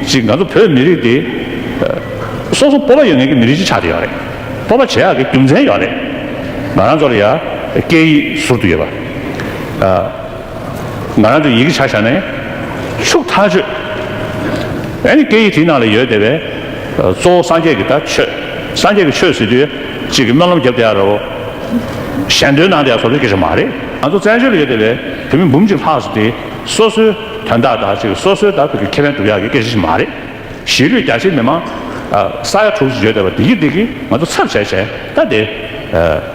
གཅིག་ང་ཚོ་བོད་མི་རིགས་དེ། སོ་སོ་སྤོབས་པ་ཡོད་ངེས་ཀྱི་མི་རིགས་གཅིག་ཆགས་ཀྱི་ཡོད་རེད། སྤོབས་པ་བྱེད་ཡག་གི་རྒྱུ་མཚན་ཡོད་རེད། ང་རང་ཚོར་ཡ། སྐད་ཡིག་ཟུར་དུ་ཡོད་པ། ང་རང་ཚོའི་ཡི་གེ་བྱ་བཞག་ནས། ཕྱུགས་ཐག་གཅོད། ཨཱ་ནི་སྐད་ཡིག་དེའི་ནང་ལ་ཡོད་དེ་བས། གཙོ་བོ་སངས་རྒྱས་ཀྱི་ད་ཆོས། སངས་རྒྱས་ཀྱི་ཆོས་ཟེར་དུས། གཅིག་གིས་སྨོན་ལམ་བརྒྱབ་དེ་ཡག་རེད། གཞན་དོན་ནང་དེ་ཡག་བཟོ་རྒྱུ་གལ་ཆེན་མ་རེད། ང་ཚོ་བཙན་བྱོལ་ལ་ཡོད་དེ་བས་བོད་མི་འབུམ་གཅིག་ལྷག་ཟེར་དེ། སོ་སོའི་དོན་དག་དག་ཅིག་སོ་སོའི་དག་པའི་ཁེ་ཕན་སྒྲུབ་ཡག་གི་སྐད་ཆ་ཞིག་མ་རེད། གཞིས་ལུས་རྒྱ་ཆེའི་མི་མང་ས་ཡ་དྲུག་ཅུ་བརྗོད་བསྡད་པ་བདེ་སྐྱིད་བདེ་སྐྱིད་ང་ཚོ་ཚབ་བྱས་བྱས་ད་དེ་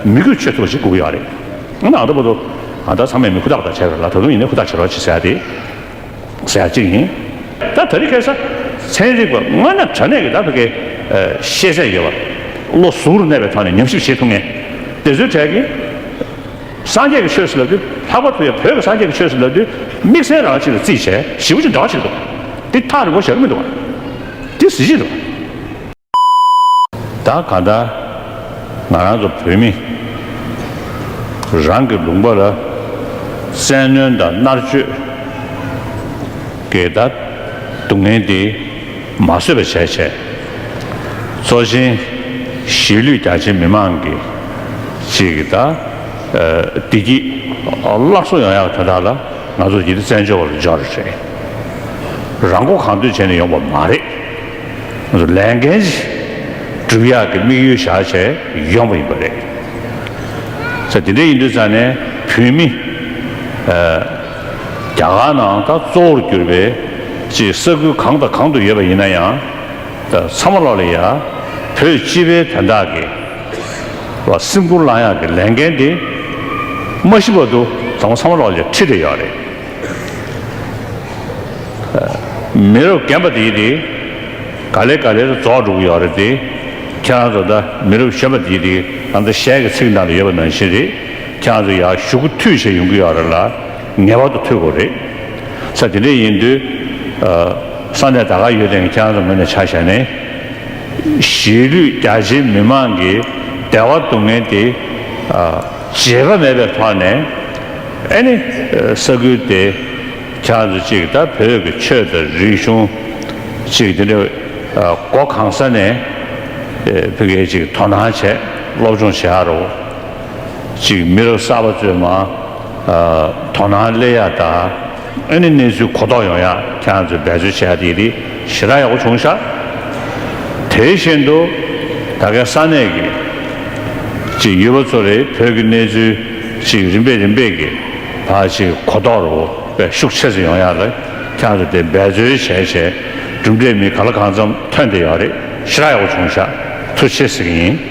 མི་དགོས་ཆོས་ཚོགས་ཞིག་བསྐུལ་གི་ཡོད་རེད། ཨ་ན་ཨ་ད་པོ་ཏོ་ང་ད་ཚང་མས་མི་ཧུར་ཐག་ཧུར་ཐག་བྱས་ཡོད་ལ་ད་དུང་ཡིན་ན་ཧུར་ཐག་བྱེད་རོགས་བྱེད་ཟེར་ཡ་དེ་ཟེར་ཡ་གཅིག་ཡིན། ད་ད་རི་སྐད་ས་ཚན་རིག་པ་སྔ་ན་དྲ་གནས་ཀྱི་དག་པའི་སྐད་ཤེས་ཚད་ཡོད་པ་བློ་གཟུ་རུ་གནས་པའི་ཐོག་ནས་ཉམས་ཞིབ་བྱེད་ཐུབ་ངེས་དེ་ཚོའི་གྲས་ཀྱི། སངས་རྒྱས་ཀྱི་ཆོས་སུ་ལབ་དུས་ལྷག་པར་དུ་ཡང་བོད་ཀྱི་སངས་རྒྱས་ཀྱི་ཆོས་སུ་ལབ་དུས་དམིགས་བསལ་རང་ཅིག་ལ་བརྩིས་བྱས་ཞིབ་པོ་ཅིག་འདྲ་བ་ཞིག་འདུག་འདི་ཐག་རིང་པོ་བཞག་གི་མི་འདུག་བ། འདི་གཟི་བརྗིད་དང། ད་གང་ལྟར་ང་རང་ཚོ་བོད་མི་རང་གི་ལུང་པ་ལ་བཙན་གནོན་དང་མནར་གཅོད། འགལ་ཟླ་སྡུག་བསྔལ་འདི། མ་བཟོད་པ་བྱས་བྱས། གཙོ་ཆེན་གཞིས་ལུས་རྒྱ་ཆེ་མི་མང་གི་ཅིག་གི་ད་བདེ་སྐྱིད་སླར་གསོ་ཡོང་ཡག་དེ་དག་ལ་ང་ཚོ་ཡིད་བརྩེ་འཇོ་བ་རུ་འཇོག་རེ་བྱེད། རང་མགོ་གང་འདོད་བྱས་ནས་ཡོང་པ་མ་རེད། ང་ཚོ་ལས་འགན་བསྒྲུབ་ཡག་གི་དམིགས་ཡུལ་བཞག་བྱས་ཡོང་པ་ཡིན་པ་རེད། ད་དེ་འདྲ་ཡིན་དུས་ཙང་ནས་བོད་མི། རྒྱ་གར་ནང་ད་གཙོ་བོར་གྱུར་པའི་ཅེས་ས་ཁུལ་གང་དང་གང་དུ་ཡོད་པ་ཡིན་ན་ཡང་ད་ཚ་མ་ལོག་ལ་ཡ། བོད་སྤྱི་པའི་དོན་དག་གི་ལ་སེམས་ཁུར་བླང་ཡག་གི་ལས་འགན་དེ་མ་ཤི་བར་དུ་ད་མོ་ཚ་མ་ལོག་ལ་ཡ་ཁྲིད་དེ་ཡོད་རེད། མི་རབས་རྒན་པ་དེའི་དེ་ག་ལེ་ག་ལེར་རྫོགས་འགྲོ་གི་ཡོད་རེད་དེ་ཁྱེད་རང་ཚོ་ད་མི་རབས་གཞོན་པ་དེའི་དེ་ག་ད་ཞལ་གི་ཚིག་ནང་ལ་ཡོད་པ་ནང་བཞིན་རེད། ཁྱང་རེ་ཡ་ཞུ་གུ་ཐུས་བྱས་ཡོང་གི་ཡོག་རེ་ལ་ངེས་པར་དུ་ཐུས་དགོས་རེད་ས་དེ་འདྲས་ཡིན་དུས་ས་གནས་ད་ག་ཡོད་དེ་ངས་ཁྱང་རེ་ངོས་ནས་ཆ་བཞག་ནས་གཞིས་ལུས་རྒྱ་ཆེའི་མི་མང་གི་བདེ་བ་སྡུག་བསྔལ་དེ་བརྗེད་པ་མེད་པའི་ཐོག་ནས་ཨེ་ནི་ས་ཁུལ་དེ་ཁྱང་རེ་གཅིག་ད་བོད་ཀྱི་ཆོས་དང་རིག་གཞུང་གཅིག་དེ་འདྲས་སྒོ་གང་ས་ནས་བོད་སྐད་ཅིག་དོ་སྣང་བྱས་སློབ་སྦྱོང་བྱས་ཡག་རོ། གཅིག་མི་རབས་གསར་པ་གཙོས་མ། དོ་སྣང་སླེ་ཡག་དང། ཨེ་ནི་གནས་ཚུལ་གོ་རྟོགས་ཡོང་ཡག་ཁྱེད་རང་ཚོས་འབད་རྩོལ་བྱས་ཡག་དེ་རིགས་ཞེ་དྲག་ཡག་པོ་བྱུང་ཤག། དེ་བཞིན་དུ། ད་གའི་ས་གནས་ཀྱི། གཅིག་ཡུལ་བ་ཚོ་རེད་བོད་ཀྱི་གནས་ཚུལ་གཅིག་རིམ་པས་རིམ་པས་ཀྱི་བར་གཅིག་གོ་རྟོགས་རོ་བས་ཤུགས་ཆེ་ཚེ་ཡོང་ཡག་ལ་ཁྱེད་རང་ཚོས་དེ་འབད་རྩོལ་བྱས་བྱས་གྲུབ་འབྲས་མི་ག་ལ་གང་འཚམས་ཐོན་དེ་ཡག་རེད་ཞེ་དྲག་ཡག་པོ་བྱུང་ཤག་ཐུགས་ཆེ་ཟེར་གྱི་ཡིན།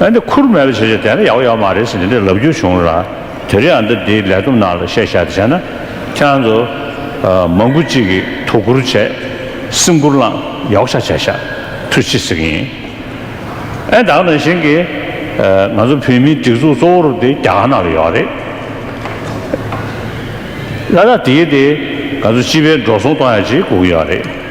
ཨ་འདི་ཁུར་མེད་ལ་བྱས་བྱས་དེ་འདྲ་ཡག་པོ་ཡག་པོ་མ་རེད་ཟེར་འདི་འདྲའི་ལབ་རྒྱུ་བྱུང་ར་དེ་རིང་ཨ་འདི་འདིའི་ལས་བསྡོམས་ནང་ལ་བཤད་བཤད་བྱས་ན་ཁྱེད་རང་ཚོ་མང་པོ་གཅིག་གིས་དོ་ཁུར་བྱས་སེམས་ཁུར་བླངས་ཡག་པོ་ཆགས་བྱས་ཤ་ཐུ་ཅི་ཟེར་གི་ཡིན་ཨ་ད་ནང་བཞིན་གྱི་ང་ཚོ་བོད་མིའི་སྒྲིག་འཛུགས་གཙོ་བོར་འདི་རྒྱ་གར་ནང་ལ་ཡོད་རེད་ལ་ད་དེའི་འདི་ང་ཚོ་སྤྱི་པའི་འགྲོ་སོང་གཏོང་ཡག་ཅིག་སྒུག་གི་ཡོད་རེད།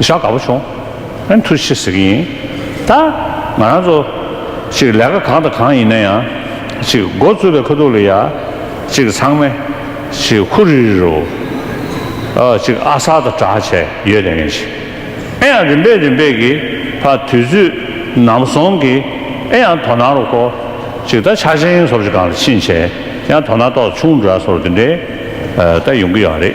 ཞག་འགའ་པོ་བྱུང། ཨ་མཐུ་ཤི་ཟེར་གྱི་ཡིན། ད་ང་རང་ཚོ། ཅིག་ལས་ཀ་གང་དང་གང་ཡིན་ན་ཡང། ཅིག་མགོ་བཙུགས་པའི་ཁ་ཐུག་ལ་ཡ། ཅིག་ཚང་མས། ཅིག་ཧུ་རི་རི་རུ། ཨ། ཅིག་ཨ་གསར་དང་གྲགས་བྱས་ཡོད་དེ་ངས་ཅིག། ཨེ་ཡང་རིམ་པས་རིམ་པས་ཀྱིས། ཕ་དུས་ཚོད་ནམ་སོང་གི། ཨེ་ཡང་དོ་སྣང་རུ་གོ། ཅིག་ད་ཆ་ཆེན་སོར་ཅིག་གང་ལ་ཕྱིན་བྱས། ཡང་དོ་སྣང་ཏོག་ཆུང་འདྲ་སོར་འདི་འདྲའི། ད་ཡོང་གི་ཡོད་རེད།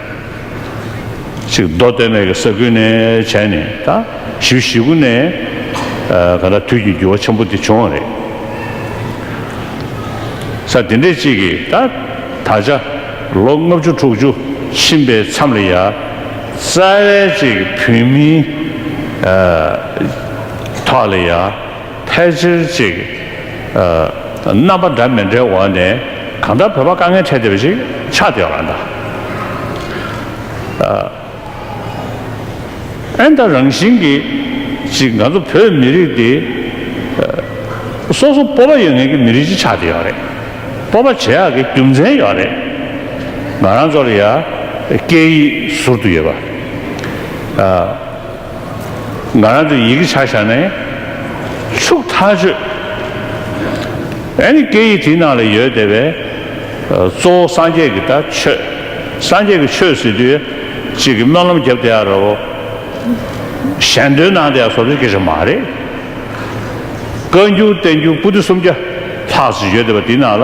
ཚིག་མདོ་སྟོད་སྨད་ཀྱི་ས་ཁུལ་ནས་བྱས་ནས་ད་ཞི་བཞི་དགུ་ནས་ག་ད་དུས་ཀྱི་འགྱུར་བ་ཆེན་པོ་འདི་བྱུང་བ་རེད། ས་འདི་འདྲའི་གཅིག་གིས་ད་ད་ཆ་ལོ་ལྔ་བཅུ་དྲུག་ཅུ་ཕྱིན་པའི་མཚམས་ལ་ཡ་རྩ་བའི་གཅིག་བོད་མིའི་ཐོག་ལ་ཡ། ཕལ་ཆེར་ཅིག། རྣམ་པ་འདྲ་མི་འདྲའི་འོག་ནས་གང་ལྟར་བོད་པ་དཀའ་ངལ་འཕྲད་བསྡད་པ་ཞིག་ཆགས་བསྡད་ཡོང་ལ་འདུག། ཨན་ད་རང་བཞིན་གྱིས་ཅིག་ང་ཚོ་བོད་མི་རིགས་འདི། སོ་སོ་སྤོབས་པ་ཡོད་ངེས་ཀྱི་མི་རིགས་ཅིག་ཆགས་བསྡད་ཡོད་རེད། སྤོབས་པ་བྱེད་ཡག་གི་རྒྱུ་མཚན་ཡོད་རེད། ང་རང་ཚོར་ཡང་སྐད་ཡིག་ཟུར་དུ་ཡོད་པ། ང་རང་དུ་ཡི་གེ་ཆག་བཞག་ནས། ཕྱུགས་ཐག་གཅོད། ཨེ་ནི་སྐད་ཡིག་དེའི་ནང་ལ་ཡོད་བསྡད་པས། གཙོ་བོ་སངས་རྒྱས་ཀྱི་ད་ཆོད། སངས་རྒྱས་ཀྱི་ཆོས་ཟེར་དུས། གཅིག་གིས་སྨོན་ལམ་རྒྱབ་དེ་ཡག་རེད། གཞན་དོན་ནང་དེ་ཡང་བཟོ་བཅོས་སྐད་ཆ་མ་རེད། བཀའ་འགྱུར་བསྟན་འགྱུར་པུ་ཏི་སུམ་བརྒྱ་ལྷག་ཅིག་ཡོད་བསྡད་པ་དེའི་ནང་ལ།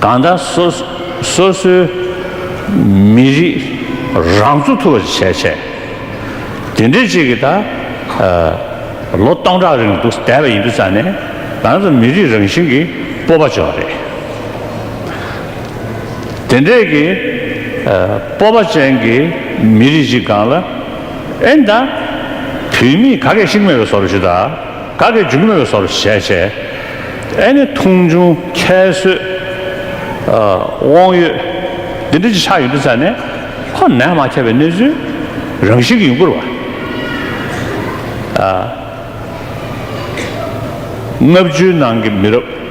གང་དག་སོ་སོའི་མི་རིགས་རང་ཚུགས་ཐུབ་པ་བྱས་བྱས། དེ་འདྲའི་ཅིག་གིས་ད་ལོ་སྟོང་ཕྲག་རིང་འདུག་བསྡད་པ་ཡིན་དུས་ཙང་ནས་རང་ཚུགས་མི་རིགས་རང་བཞིན་གྱི་སྤོབས་པ་བྱུང་བ་རེད། དེ་འདྲའི་གི་སྤོབས་པ་ཅན་གྱི་མི་རིགས་ཅིག་གང་ལ་ཨེ་འདང། བུད་མེད་ག་གེ་ཞིག་མེད་པའི་བཟོ་རུ་ཞུ་ད། ག་གི་འཇུག་མོད་སོར་བཞད་བྱས། ཨེ་ནི་ཐུང་ཆུང་ཁྱད་གསོད་དབང་ཡོད། འདི་འདྲ་ཅི་ཆ་ཡོད་འདི་ཙམ་ནས། ཧོ་ནད་མ་ཁྱབ་པའི་གནས་ཚུལ་རང་བཞིན་གྱི་ཡུངས་བསྐུར་བ། ལྔ་བཅུའི་ནང་གི་མི་རབས།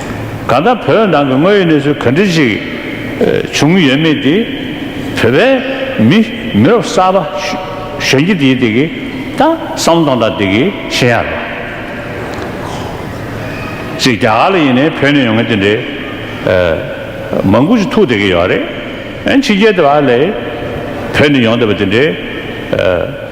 ག་ད་བོད་ནང་གི་དངོས་ཡོད་གནས་ཚུལ་ག་འདྲི་ཞིག་བྱུང་ཡོད་མེད་དེ་བོད་པའི་མི་མི་རབས་གསར་པ་གཞོན་སྐྱེས་དེ་དེ་གི་ད་བསམ་བློ་དང་ད་དེ་གི་ཤེས་ཡ་རེད། ཅིག་རྒྱ་གར་ལ་ཡིན་ནའི་བོད་ནས་ཡོང་མཁན་དེ་འདྲའི་མང་པོ་ཞིག་ཐུག་བསྡད་གི་ཡོད་རེད། ཕྱི་རྒྱལ་དེ་བ་ལས་བོད་ནས་ཡོང་བསྡད་པ་དེ་འདྲའི།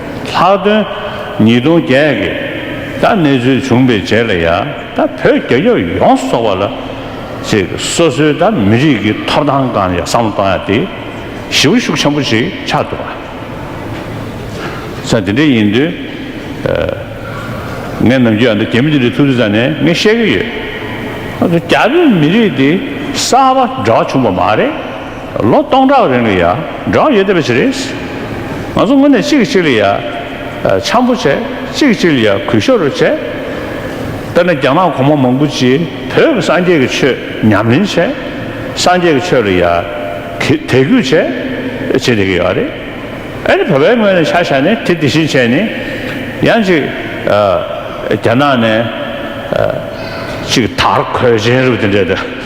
ལྷག་དོན། ཉིས་སྟོང་བརྒྱད་ཀྱི། ད་གནས་ཚུལ་བྱུང་པའི་རྗེས་ལ་ཡང་ད་བོད་རྒྱ་སྐྱབས་ཡོངས་སོགས་པ་ལ། ཚེ་སོ་སོའི་ད་མི་རིགས་ཀྱི་ཐོབ་ཐང་གང་ཡང་བསམ་བློ་གཏོང་ཡ་དེ། ཞི་བ་ཤུགས་ཆེན་པོ་ཞིག་ཆགས་འདུག་བ། ཚ་དེ་འདྲ་ཡིན་དུས། ངས་ནམ་རྒྱུན་ཨ་མདོ་རྒྱ་མི་དེ་འདྲའི་ཐུགས་རྫི་ཙམ་ནས་ངས་བཤད་ཀྱི་ཡོད། ཨ་མདོ་རྒྱ་བོད་མི་རིགས་དེ་གསར་པ་འདྲ་བ་བྱུང་བ་མ་རེད། ལོ་སྟོང་ཕྲག་རིང་ལ་ཡ་འབྲང་ཡོད་བསྡད་པ་ཞིག་རེད། ང་ཚོ་དངོས་གནས་གཅིག་གིས་གཅིག་ལ་ཡ་འཆམ་པོ་བྱས་གཅིག་གིས་གཅིག་ལ་ཡ་གུས་ཤོར་རེ་བྱས། དཔེར་ན་རྒྱ་ནག་གོང་མ་མང་པོ་ཅིག་བོད་ཀྱི་སངས་རྒྱས་ཀྱི་ཆོས་ཉམས་ལེན་བྱས། སངས་རྒྱས་ཀྱི་ཆོས་ལ་ཡ་དད་གུས་བྱས། བྱས་བསྡད་ཀྱི་ཡོད་རེད། ཨ་རི་བོད་པའི་ངོས་ནས་ཆ་བཞག་ནས་དེ་དེ་བཞིན་བྱས་ནས་ཡང་གཅིག་རྒྱ་ནག་ནས་གཅིག་དར་གོས་ཅན་རུ་དེ་འདྲས་དེ།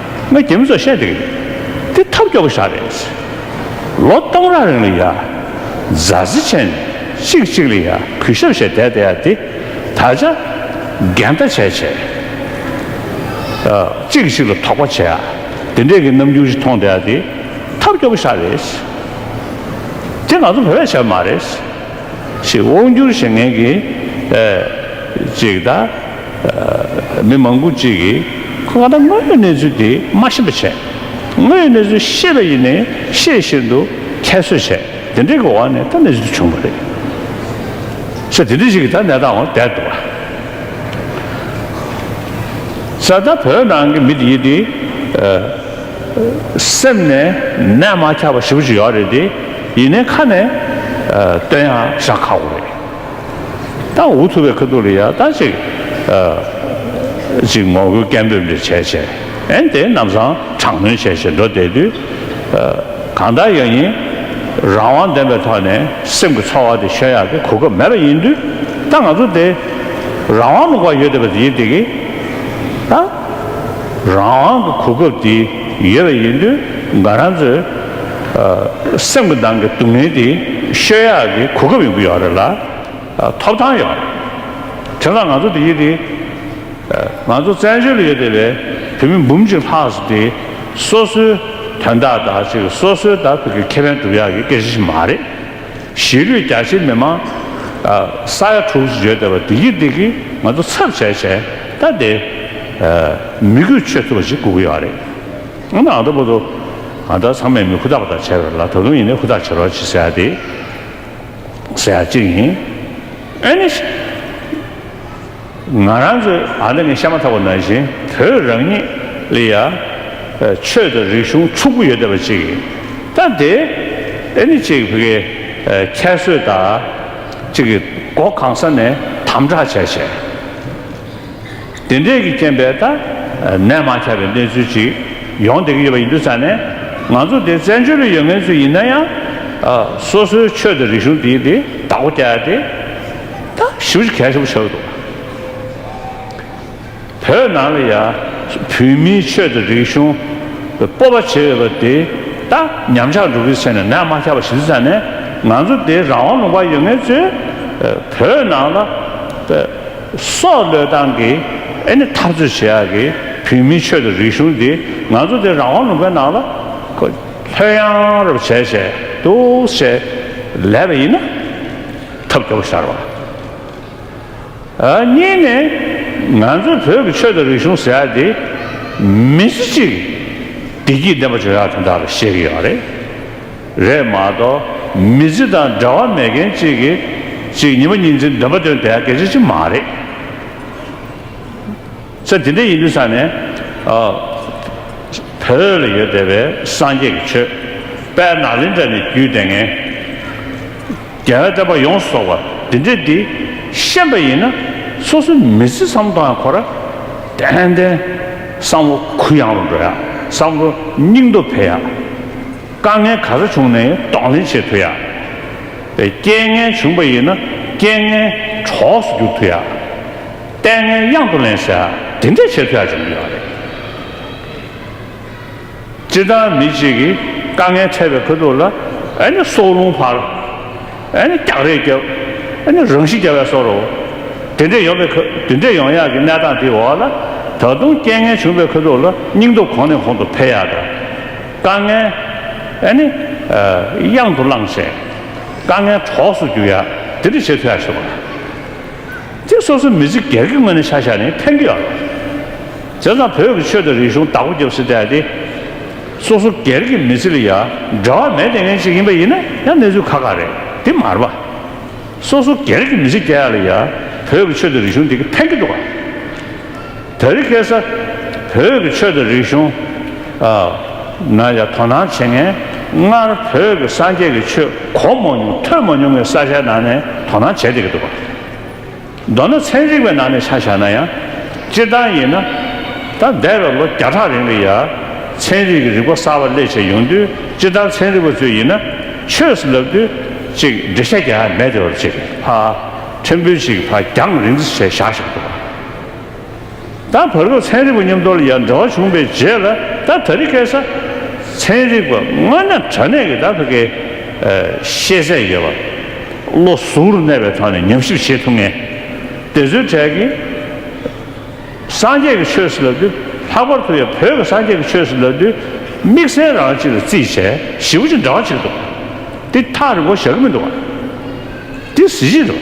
ང་རྒྱལ་མི་ཚོར་བཤད་འདོད་ཀྱི་མེད། འདི་ཐབས་སྐྱོ་པོ་ཞག་རེད། ལོ་སྟོང་རག་རིང་ལ་ཡ། རྫ་རྩི་ཆེན། གཅིག་གཅིག་ལ་ཡ་གུས་ཞབས་བྱས་བསྡད་བསྡད་ཡ་འདི། ད་ཆ། འགལ་ཟླ་བྱས་བྱས། གཅིག་གཅིག་ལ་དོགས་པ་བྱས་ཡ། འདི་འདྲས་ཀྱི་རྣམ་འགྱུར་ཞིག་མཐོང་བསྡད་ཡ་འདི། ཐབས་སྐྱོ་པོ་ཞག་རེད། འདི་ང་ཚོ་བོད་པས་བྱས་པ་མ་རེད། ཞེས་དབང་སྒྱུར་བྱེད་མཁན་གྱི། ཅིག་ད། མི་མང་པོ་གཅིག་གིས་ཁོས་ང་ལ་དངོས་ཡོད་གནས་ཚུལ་དེ་མ་ཤེས་པ་བྱས། དངོས་ཡོད་གནས་ཚུལ་ཤེས་པ་ཡིན་ནས་ཤེས་བཞིན་དུ་ཁྱད་གསོད་བྱས། དེ་འདྲའི་གི་བ་ནས་ད་ནས་ཟིག་བྱུང་བ་རེད། ཚེ་དེ་འདྲའི་ཞིག་གི་ད་ནས་དང་བ་བསྡད་འདུག་བ། ས་ད་བོད་ནང་གི་མི་དེ་དེ་སེམས་ནས་ནད་མ་ཁྱབ་པ་ཞིབ་པོ་ཞིག་ཡོད་རེད་དེ་ཡིན་ནས་ཁ་ནས་བཏོན་ཡང་བཞག་ཁག་པོ་རེད། ཏང་འུ་ཚུགས་པའི་ཁུལ་དུ་ལ་ཡ་ལྟ་ཅིག་ཅིག་ངོ་རྒོལ་སྐད་འབོད་འདྲ་བྱས་བྱས་ཨན་དེ་རྣམས་སང་དྲག་གནོན་བྱས་བྱས་འགྲོ་བསྡད་དུས། གང་ལྟར་ཡང་ཡིན། རང་དབང་ལྡན་པའི་ཐོག་ནས་སེམས་ཀྱི་ཚོར་བ་དེ་ཤོད་ཡག་གི་གོ་སྐབས་མེད་པ་ཡིན་དུས་ད་ང་ཚོ་དེ་རང་དབང་ལུང་པར་ཡོད་བསྡད་པ་དེ་ཡིན་དེ་གི། ད་རང་དབང་གི་གོ་སྐབས་དེ་ཡོད་པ་ཡིན་དུས་ང་རང་ཚོས། སེམས་ཀྱི་ནང་གི་སྡུག་བསྔལ་དེ་ཤོད་ཡག་གི་གོ་སྐབས་ཡོང་གི་ཡོད་རེད་ལ། ཐོབ་ཐང་ཡོད་རེད། དེ་ལ་ང་ཚོ་དེ་ཡོད་དེ། ང་ཚོ་བཙན་བྱོལ་ཡོད་དེ་བས་བོད་མི་འབུམ་གཅིག་ལྷག་ཟེར་དེ་སོ་སོའི་དོན་དག་དག་ཅིག་སོ་སོའི་དག་ཕུད་ཀྱི་ཁེ་ཕན་སྒྲུབ་ཡག་གི་སྐད་ཆ་ཞིག་མ་རེད། གཞིས་ལུས་རྒྱ་ཆེའི་མི་མང་ས་ཡ་དྲུག་ཅེས་བརྗོད་བསྡད་པ་བདེ་སྐྱིད་བདེ་སྐྱིད་ང་ཚོ་ཚབ་བྱས་བྱས་ད་བདེ། མི་དགོས་ཆོས་ཐུབ་པ་ཞིག་དགོས་ཀྱི་ཡོད་རེད། ཨ་མ་ཨ་མདོ་པོ་ཏོ། ང་ད་ཚང་མས་མི་ཁུ་ཐག་པ་ཐག་བྱས་པ་རེད་ལ་ད་དུང་ཡིན་ན་ཁུ་ཐག་བྱེད་རོགས་བྱེད་ཟེར་ཡ་དེ། ཟེར་ཡ་ཅིག་ཡིན། ཨེ་ནས། ང་རང་ཚོའི་ཨ་མདོ་ནི་ཤ་མ་ཐག་པ་ནང་བཞིན་བོད་རང་ཉིད་ལི་ཡ། ཆོས་དང་རིག་གཞུང་ཕྱུག་པོ་ཡོད་བསྡད་པ་ཅིག་ཡིན། ད་དེ། ཨེ་ནས་ཅིག་བྷི་གའི། ཁྱད་གསོད་དག། ཅིག་གིས་སྒོ་གང་ས་ནས་དམ་དྲག་བྱས་བྱས། དེ་འབྲེལ་གྱི་རྐྱེན་པས་ད་ནས་མ་ཆགས་པའི་གནས་ཚུལ་ཅིག་ཡོང་བསྡད་ཀྱི་ཡོད་པ་ཡིན་འདུག་ས་ནས་ང་ཚོ་དེ་བཙན་བྱོལ་ལ་ཡོད་མཁན་ཚོ་ཡིན་ན་ཡང། སོ་སོའི་ཆོས་དང་རིག་གཞུང་དེ་དེ་བདག་པོ་བསྐྱལ་ཏེ། ད་ཞིབ་གཞིག་གལ་ཆེན་པོ་བྱ་དགོས་འདུག་བོད་ནང་ལ་ཡ། བོད་མིའི་ཆོས་དང་རིག་གཞུང་སྤོབས་པ་བྱེད་འོས་པ་དེ་ད་ཉམས་ཆག་འགྲོ་གི་ཚེ་ན་ནས་མ་ཆགས་པ་ཞིག་འདུག་ས་ནས་ང་ཚོ་དེ་རང་དབང་ལུང་པར་ཡོད་མཁན་ཚོས་བོད་ནང་ལ། སོག་ལོས་ཏང་གི་ཨེ་ནི་འཐབ་རྩོད་བྱེད་ཡག་གི་བོད་མིའི་ཆོས་དང་རིག་གཞུང་འདི་ང་ཚོ་འདི་རང་དབང་ལུང་པའི་ནང་ལ་ལྷོད་ཡང་རུབ་བྱས་བྱས་འདུག་བྱས་ལས་པ་ཡིན་ན་ཐབས་སྐྱོ་བོ་ཤར་བ། གཉིས་ནས་ང་ཚོའི་བོད་ཀྱི་ཆོས་དང་རིག་གཞུང་ཟེར་ཡག་འདི་མི་ཚེ་གཅིག་བདེ་སྐྱིད་ལྡན་པ་བྱུང་ཡག་དེ་འདྲ་ལ་བཤད་ཀྱི་ཡོད་རེད། རེད་མ་གཏོགས་མི་ཚེ་དང་འབྲེལ་བ་མེད་མཁན་གཅིག་གིས་གཅིག་ཉིན་པ་གཉིས་འཛིན་འདོད་པ་དོན་དེ་གལ་ཆེ་ཆེ་མ་རེད། ཚེ་དེ་འདྲ་ཡིན་དུས་ས་ནས་བོད་ལ་ཡོད་བསྡད་པའི་སངས་རྒྱས་ཀྱི་ཆོས་དཔལ་ནག་ལིང་དྲ་ནས་བརྒྱུད་དེ་ངན་རྒྱལ་བའི་བསྟན་པ་ཡོངས་སུ་རྫོགས་པ་འདི་འདྲས་འདི་ཤེས་པ་ཡིན་ན་སོ་སོའི་མི་ཚེ་བསམ་དོན་ཡང་གོ་ར་ཏན་ཏན་བསམ་བློ་གུ་ཡངས་རུ་འགྲོ་ཡ་བསམ་བློ་སྙིང་སྟོབས་འཕེལ་ཡ། དཀའ་ངལ་ག་རེ་བྱུང་ནའི་གདོང་ལེན་བྱེད་ཐུ་ཡ། རྐྱེན་ངན་བྱུང་པ་ཡིན་ན་རྐྱེན་ངན་གྲོགས་སུ་གྱུར་ཐུ་ཡ། ལྟས་ངན་གཡང་དུ་ལེན་ཟེར་དེ་འདྲས་བྱེད་ཐུ་ཡ་བྱུང་གི་ཡོད་རེད། སྤྱིར་བཏང་མི་གཅིག་གིས་དཀའ་ངལ་འཕྲད་པའི་ཁོད་དུ་ལ་ཨེ་ནི་སྲོག་རླུང་འཕར། ཨེ་ནི་སྐྱག་རེས་རྒྱབ། ཨེ་ནི་རང་ཤི་རྒྱབ་བས་སོ་རུ། དེ་འདྲས་ཡོང་པའི་ཁོད་དེ་འདྲས་ཡོང་ཡག་གི་གནས་སྟངས་དེའི་འོག་ལ་ད་དུང་རྐྱེན་ངན་བྱུང་པའི་ཁོད་དུ་ལ་སྙིང་སྟོབས་གོང་ནས་གོང་དུ་འཕེལ་ཡག་དང། དཀའ་ངལ། ཨེ་ནི། གཡང་དུ་བླངས་ཤིང། དཀའ་ངལ་གྲོགས་སུ་གྱུར་ཡ། དེ་འདྲ་བྱེད་ཐུ་ཡ་ཞེས་པ། དེ་སོ་སོའི་མི་ཚེ་གེར་གི་ངོས་ནས་ཤ་ཤ་ནི་ཕན་གི་ཡོད་རེད། དེ་ཙམ་བོད་ཀྱི་ཆོས་དང་རིག་གཞུང་བདག་པོ་རྒྱབ་སྲིད་དེ། སོ་སོ་གེར་གི་མི་ཚེ་ལ་ཡ། འབྲེལ་བ་མེད་ལྟས་ངན་ཞིག་ཡིན་པ་ཡིན་ན་ཡང་གནས་ཚུལ་ཁ་ཁ་རེད་དེ་མར་པ། སོ་སོ་གེར་གི་མི་ཚེ་སྐྱེལ་ཡ་ལ་ཡ། བོད་ཀྱི་ཆོས་དང་རིག་གཞུང་འདི་གི་ཕན་གི་འདུག་ག། དེ་རིགས་སྐད་ས། བོད་ཀྱི་ཆོས་དང་རིག་གཞུང། ན་ཡང་དོ་སྣང་བྱེད་ངེས། སྔར་བོད་ཀྱི་སངས་རྒྱས་ཀྱི་ཆོས་གོ་མ་མྱོང་ཐོས་མ་མྱོང་བའི་ས་ཆའི་ནང་ནས་དོ་སྣང་བྱེད་བསྡད་ཀྱི་འདུག་པ། མདོར་ན་ཚན་རིག་པའི་ནང་ནས་ཆ་བཞག་ན་ཡང། སྤྱིར་བཏང་ཡིན་ན། ད་འདས་པའི་ལོ་བརྒྱ་ཕྲག་རིང་ལ་ཡང། ཚན་རིག་གི་རིག་པ་གསར་བ་སླད་བྱས་ཡོང་དུས་སྤྱིར་བཏང་ཚན་རིག་པ་ཚོས་ཡིན་ན། ཆོས་སུ་ལབ་དུས། ཅིག་འགྲེལ་བཤད་རྒྱག་ཡ་མེད་དེ་བབ་ཅིག་ཧ། ཕྲན་བུ་ཞིག་ཕ་རྒྱང་རིང་བརྩི་བྱས་བཞག་ཞིག་འདུག་པ། ད་བར་དུ་ཚན་རིག་པ་མཉམ་དོར་ཡར་འདྲ་བ་བྱུང་པའི་རྗེས་ལ་ད་ད་རི་སྐད་ས། ཚན་རིག་པ་སྔ་ན་དྲ་གནས་ཀྱི་ད་བྷི་སྐད། ཤེས་ཚད་ཡོད་པ། བློ་གཟུ་རུ་གནས་པའི་ཐོག་ནས་ཉམས་ཞིབ་བྱེད་ཐུབ་ངེས། དེ་ཚོའི་གྲས་ཀྱི། སངས་རྒྱས་ཀྱི་ཆོས་སུ་ལབ་དུས་ལྷག་པར་དུ་ཡང་བོད་ཀྱི་སངས་རྒྱས་ཀྱི་ཆོས་སུ་ལབ་དུས་དམིགས་བསལ་རང་གཅིག་ལ་རྩིས་བྱས་ཞིབ་པོ་ཅིག་འདྲ་བ་བྱེད་དུ་འདུག་དེ་ཐག་རིང་པོ་བཞག་གི་མི་འདུག་བ། དེ་གཟི་བརྗིད་རེད་བ།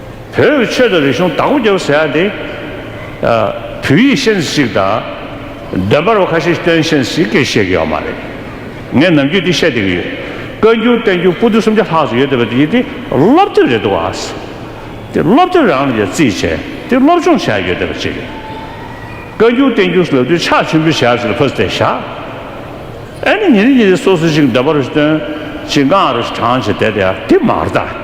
བོད་ཡུལ་ཆོས་དང་རིག་གཞུང་དྭགས་པོ་རྒྱལ་པོ་ཟེར་ཡག་དེ། བོད་ཡིག་ཤེས་ཚེ་ཅིག་དང། འདོན་པར་བ་ཁ་ཤས་སྟོན་ཤེས་ཚེ་ཅིག་གས་བཤད་གི་ཡོག་མ་རེད། ངས་ནམ་རྒྱུན་འདི་བཤད་བསྡད་གི་ཡོད། བཀའ་འགྱུར་བསྟན་འགྱུར་སྤུ་རྡུལ་སུམ་བརྒྱ་ལྷག་ཅིག་ཡོད་བསྡད་པ་དེ་དེ་སློབ་དེབ་རེད་འདུག་བ། དེ་སློབ་དེབ་རང་ལ་ཡང་རྩིས་བྱས་དེ་སློབ་སྦྱོང་བྱས་ཡོད་བསྡད་པ་ཅིག་རེད། བཀའ་འགྱུར་བསྟན་འགྱུར་ལབ་དུས་ཕྱག་ཆེན་པོའི་ཞལ་ཟིན་ལ་ཕོ་ཟེར་བཞག། ཨེ་ནི་ཉིན་རེ་ཉིན་རེ་སོ་སོ་ཅིག་འདོན་པ་རུ་སྟོན། ཅིག་འགངས་རུ་དྲངས་བྱས་བསྡད་དེ་ཡག་དེ་མ་རེད།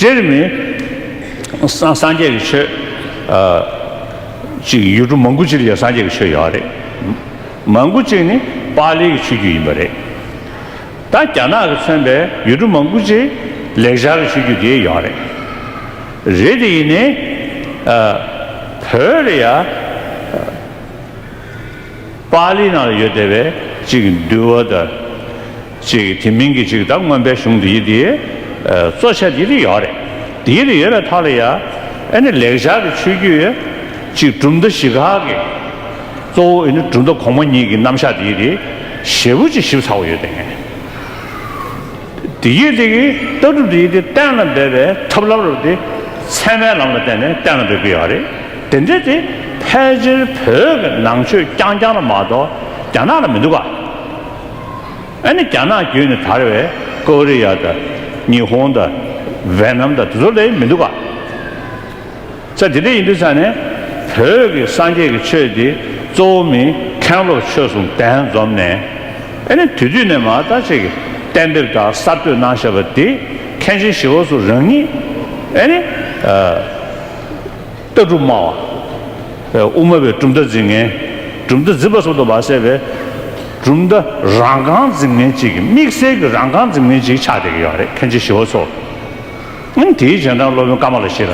དེར་མི་སངས་རྒྱས་ཀྱི་ཆོས་གཅིག་ཡུལ་གྲུ་མང་པོ་ཅིག་ལ་སངས་རྒྱས་ཀྱི་ཆོས་ཡོད་རེད། མང་པོ་ཅིག་ནི་པཱ་ལིའི་ཆོས་བརྒྱུད་ཡིན་པ་རེད། ད་རྒྱ་ནག་གི་མཚོན་པའི་ཡུལ་གྲུ་མང་པོ་ཅིག་ལེགས་སྦྱར་གྱི་ཆོས་བརྒྱུད་དེ་ཡོད་རེད། རེད་དེ་ཡིན་ནའི། བོད་ལ་ཡ། པཱ་ལིའི་ནང་ལ་ཡོད་བསྡད་པའི་ཅིག་འདུལ་བ་དང། ཅིག་དེ་མིན་གྱི་ཅིག་བདག་མངོན་པའི་གཞུང་འདི་ཡི་དེའི་གཙོ་ཆེ་འདི་རེ་ཡོད་རེད། འདི་རེ་ཡོད་པའི་ཐོག་ལ་ཡ་ཨེ་ནི་ལེགས་བྱ་གི་ཆོས་བརྒྱུད་ཅིག་གྲུབ་མཐའ་བཞི་ཁག་གི་གཙོ་བོ་ཨེ་ནི་གྲུབ་མཐའ་གོང་མ་གཉིས་ཀྱི་རྣམ་གཞག་འདི་ཡི་དེའི་ཞེ་བོ་ཅིག་ཞིབ་ཚགས་པོ་ཡོད་དེ། འདི་ཡི་དེ་གི་ལྟ་གྲུབ་འདི་ཡི་དེ་གཏན་ལ་འབེབས་པའི་ཐབས་ལམ་རུ་དེ་ཚད་མའི་ལམ་ལ་བརྟེན་ནས་གཏན་ལ་འབེབས་ཀྱི་ཡོད་རེད། དེ་འདྲའི་དེ་ཕལ་ཆེར་བོད་ཀྱི་ནང་ཆོས་རྐྱང་རྐྱང་ལ་མ་གཏོགས་རྒྱ་ནག་ལ་མི་འདུག་ག། ཨ་ནི་རྒྱ་ནག་བརྒྱུད་ནས་དར་བའི་ཀོ་རི་ཡ་དང་ཉི་ཧོང་དང་ཝེ་ནམ་དང་དེ་ཚོ་ལས་མི་འདུག་ག། ཚ་དེ་འདྲ་ཡིན་དུས་ཚ་ནས་བོད་ཀྱི་སངས་རྒྱས་ཀྱི་ཆོས་འདི་གཙོ་བོ་མིན་མཁན་སློབ་ཆོས་གསུང་གདན་འཛོམས་ནས་ཨ་ནི་དུས་དུས་ནས་མ་ལྟ་ཅིག་གཏན་འབེབས་དང་གསར་གཏོད་གནང་བཞག་པ་འདི་མཁན་ཆེན་ཞི་བ་སོགས་རང་ཉིད་ཨ་ནི། ལྟ་གྲུབ་སྨྲ་བ། དབུ་སྨྲ་བའི་གྲུབ་མཐའ་འཛིན་མཁན། གྲུབ་མཐའ་འཛིན་པ་སོགས་དུ་མ་བསྲེས་པའི། གྲུབ་མཐའ་རང་རྐང་འཛིན་མཁན་གཅིག་གིས་དམིགས་བསལ་གྱི་རང་རྐང་འཛིན་མཁན་གཅིག་ཆགས་བསྡད་ཀྱི་ཡོད་རེད་མཁན་ཆེན་ཞི་བ་འཚོ། ཨང། དེའི་རྗེས་འབྲང་སློབ་དཔོན་ཀ་མ་ལ་ཤི་ར།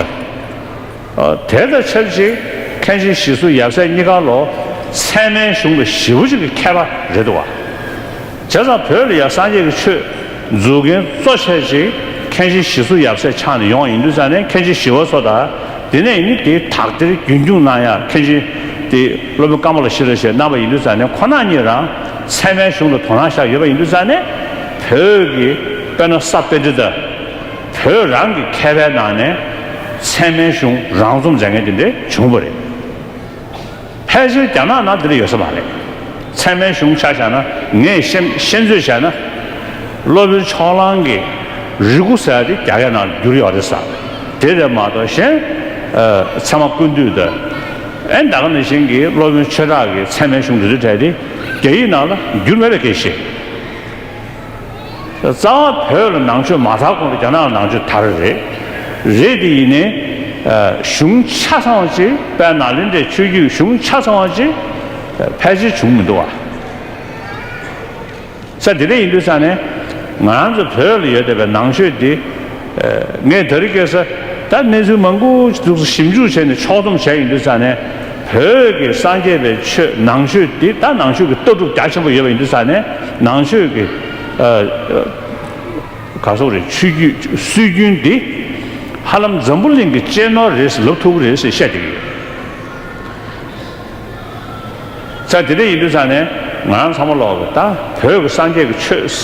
དེ་དང་ཆབས་ཅིག་མཁན་ཆེན་ཞི་སུ་ཡབ་སྲས་གཉིས་ཀ་ལོ་ཚད་མའི་གཞུང་གི་ཞི་བ་གཅིག་གི་མཁས་པ་རེད་འདུག་བ། བྱས་ཙང་བོད་ལ་ཡང་སངས་རྒྱས་ཀྱི་ཆོས་འཛུགས་མཁན་གཙོ་ཆེ་ཆེ་མཁན་ཆེན་ཞི་སུ་ཡབ་སྲས་ཆགས་ནས་ཡོང་ཡིན་དུས་ཙང་ནས་མཁན་ཆེན་ཞི་བ་སོགས་དང་དེ་ནས་ནི་དེ་དག་དེར་རྒྱུན་སྐྱུང་གནང་ཡང་མཁན་ཆེན་དེ་སློབ་དཔོན་བཀའ་མོ་ལ་ཞི་ལ་ཞེས་གནང་བ་ཡིན་དུས་ཙང་ནས་ཁོ་ན་གཉིས་རང་ཚད་མའི་གཞུང་ལ་དོ་སྣང་བཞག་ཡོད་པ་ཡིན་དུས་ཙང་ནས་བོད་ཀྱི་དཔེ་ན་ས་དཔེ་འདི་དག་བོད་རང་གི་མཁས་པའི་ནང་ནས་ཚད་མའི་གཞུང་རང་རྩོམ་མཛད་མཁན་དེ་འདྲས་བྱུང་བ་རེད། ཕལ་ཆེར་རྒྱ་ནག་ནང་འདིར་ཡོད་ས་མ་རེད། ཚད་མའི་གཞུང་ཆ་བཞག་ན་ངས་ཤེས་ཚོད་བྱས་ན། སློབ་དཔོན་ཕྱོགས་གླང་གི་རིགས་སྐུ་ཟེར་བ་དེ་རྒྱ་སྐད་ནང་བསྒྱུར་ཡོད་རེད་ས་དེ་རེད་མ་གཏོགས་གཞན། ཚད་མ་ཀུན་བཏུས་དེ་ཨེ་འདྲ་ག་ནས་བཞེངས་ཀྱི་སློབ་དཔོན་ཆོས་གྲགས་ཀྱི་ཚད་མའི་གཞུང་འདི་ཚོད་བྲལ་ཏེ་རྒྱ་ཡིག་ནང་ལ་བསྒྱུར་མེད་པའི་སྐད་བཤད། རྩ་བ་བོད་ལ་ནང་ཆོས་མ་དར་གོང་དུ་རྒྱ་ནག་ལ་ནང་ཆོས་དར་རེད། རེད་དེ་ཡིན་ནའི། གཞུང་ཆ་ཚང་བ་ཅིག་དཔལ་ནཱ་ལེནྡྲའི་ཆོས་བརྒྱུད་གཞུང་ཆ་ཚང་བ་ཅིག་ཕལ་ཆེར་བྱུང་མི་འདུག་བ། ས་དེ་འདྲ་ཡིན་དུས་ས་ནས། ང་རང་ཚོ་བོད་ལ་ཡོད་བསྡད་པའི་ནང་ཆོས་དེ། ངས་ད་རི་ཀས་ད་གནས་ཚུལ་མང་པོ་ཞིག་ཞིབ་འཇུག་བྱས་ནས་ཕྱོགས་སྡོམ་བྱས་ཡོད་འདུག་ས་ནས་བོད་ཀྱི་སངས་རྒྱས་པའི་ཆོས་ནང་ཆོས་དེ་ད་ནང་ཆོས་ཀྱི་ལྟ་གྲུབ་རྒྱ་ཆེན་པོ་ཡོད་པ་ཡིན་འདུག་ས་ནས་ནང་ཆོས་ཀྱི་ག་སོགས་རེད་ཆོས་རྒྱུད་སྲོལ་རྒྱུན་དེ་ཧ་ལམ་འཛམ་བུ་གླིང་གི་གཅེས་ནོར་རེད་ཟེར་ལོབས་ཐུབ་རེད་ཟེར་བཤད་ཀྱི་ཡོད། ཚར་དེ་འདྲ་ཡིན་དུས་ཚར་ནས་ང་རང་ཚང་མ་ལོག་གི་ད་བོད་ཀྱི་སངས་རྒྱས་ཀྱི་ཆོས་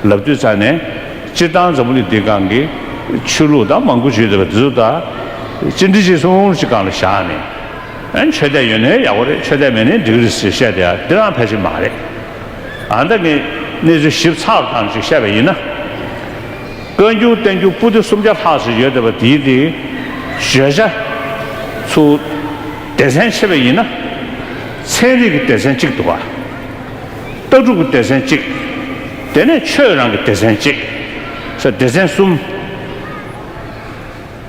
ལབ་དུས་ཚར་ནས་སྤྱིར་བཏང་འཛམ་བུ་གླིང་འདིའི་སྒང་གི་ཆོས་ལུགས་དང་མང་པོ་བྱོས་ཟེར་བ་དེ་ཚོ་ད་ཅི་འདྲི་ཅི་གསུང་གི་སྒང་ལ་བཞག་ནས་ཨ་ཆོས་དད་ཡོད་ནའི་ཡག་པོ་རེད་ཆོས་དད་མེད་ནའི་འགྲིག་གི་རེད་ཟེར་བཤད་དེ་ཡང་འདི་རང་ཕལ་ཆེར་མ་རེད་ཨ་ད་ངས་གནས་ཚུལ་ཞིབ་ཚགས་པོ་ཙམ་ཞིག་བཤད་པ་ཡིན་ན། བཀའ་འགྱུར་བསྟན་འགྱུར་པུ་ཏི་སུམ་བརྒྱ་ལྷག་ཟེར་ཡོད་དེ་བ་དེའི་དེའི་བརྗོད་བྱ་ཚུལ། སྡེ་ཚན་ཕྱེ་བས་ཡིན་ན། ཚན་རིག་གི་སྡེ་ཚན་གཅིག་འདུག། ལྟ་གྲུབ་ཀྱི་སྡེ་ཚན་གཅིག། དེ་ནས་ཆོས་རང་གི་སྡེ་ཚན་གཅིག། ས་སྡེ་ཚན་གསུམ།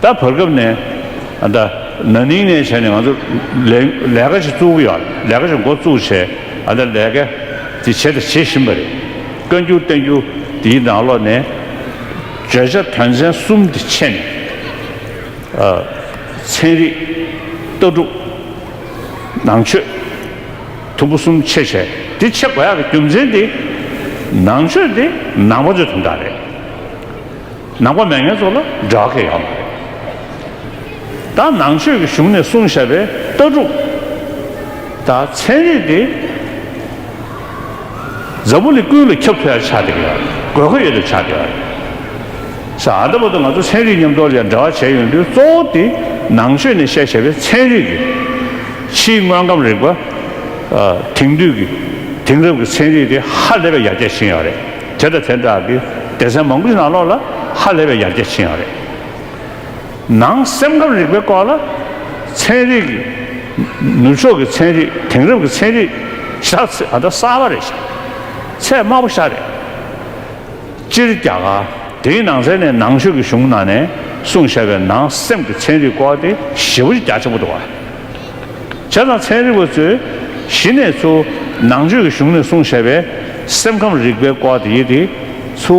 ད་བར་སྐབས་ནས་ད་ན་ནིང་ནས་བྱས་ནས་ང་ཚོ་ལས་ཀ་ཞིག་བཙུགས་ཀྱི་ཡོད། ལས་ཀ་ཞིག་མགོ་བཙུགས་བྱས་ད་ལས་ཀ་དེ་བྱས་དང་བྱེད་བཞིན་པ་རེད། བཀའ་འགྱུར་བསྟན་འགྱུར་འདིའི་ནང་ལོགས་ནས་བརྗོད་བྱ་དོན་ཚན་གསུམ་དེ་ཕྱེ་ནས། ཚན་རིག། ལྟ་གྲུབ། ནང་ཆོས། དུམ་བུ་གསུམ་ཕྱེ་བྱས་དེ་ཕྱེ་དགོས་ཡག་གི་རྒྱུ་མཚན་དེ། ནང་ཆོས་དེ་ནང་པ་ཚོའི་དོན་དག་རེད། ནང་པ་མེད་མཁན་ཚོ་ལ་འབྲེལ་བ་ཁེལ་ཡག་མ་རེད། ད་ནང་ཆོས་ཀྱི་གཞུང་ནས་གསུངས་བཞག་པའི་ལྟ་གྲུབ། ད་ཚན་རིག་དེ། གཟའ་བོ་ལི་ཀུན་ལ་ཁྱབ་ཐུ་ཡར་ཆགས་ཏེ་དགོས་མཁོ་ཡོད་དོ་ཆགས་ཏེ། ས་ཨ་ད་པ་དང་ང་ཚོ་ཚན་རིག་མཉམ་དོར་ཡར་འབྲེལ་བ་བྱས་ཡོང་དུས་གཙོ་བོ་དེ་ནང་ཆོས་ནས་བཤད་བྱས་པའི་ཚན་རིག་གི་ཕྱིའི་དངོས་ཁམས་རིག་པ། དེང་དུས་ཀྱི་དེང་རབས་ཀྱི་ཚན་རིག་དེ་ཧ་ལས་པའི་ཡར་རྒྱས་ཕྱིན་ཡོད་རེད་དེ་དང་དེ་འདྲ་བའི་སྡེ་ཚན་མང་པོ་ཞིག་ནང་ལོགས་ལ་ཧ་ལས་པའི་ཡར་རྒྱས་ཕྱིན་ཡོད་རེད། ནང་སེམས་ཁམས་རིག་པའི་སྐོར་ལ། ཚན་རིག། ནུབ་ཕྱོགས་ཀྱི་ཚན་རིག་དེང་རབས་ཀྱི་ཚན་རིག། ཤ་ཚ་ད་གསར་བ་རེད་ཤ་ཚས་དམར་པོ་ཤ་རེད། སྤྱིར་རྒྱ་གར་དེའི་ནང་ཚན་ནས་ནང་ཆོས་ཀྱི་གཞུང་ནང་ནས་གསུང་བཤད་པའི་ནང་སེམས་ཀྱི་ཚན་རིག་སྐོར་དེ་ཞེ་བོ་རྒྱ་ཆེན་པོ་འདུག་བྱས་ཙང་ཚན་རིག་པ་ཚོས་གཞི་ནས་ཚུ་ནང་ཆོས་ཀྱི་གཞུང་ནས་གསུང་བཤད་པའི་སེམས་ཁམས་རིག་པའི་སྐོར་དེ་ཡི་དེ་ཚུ།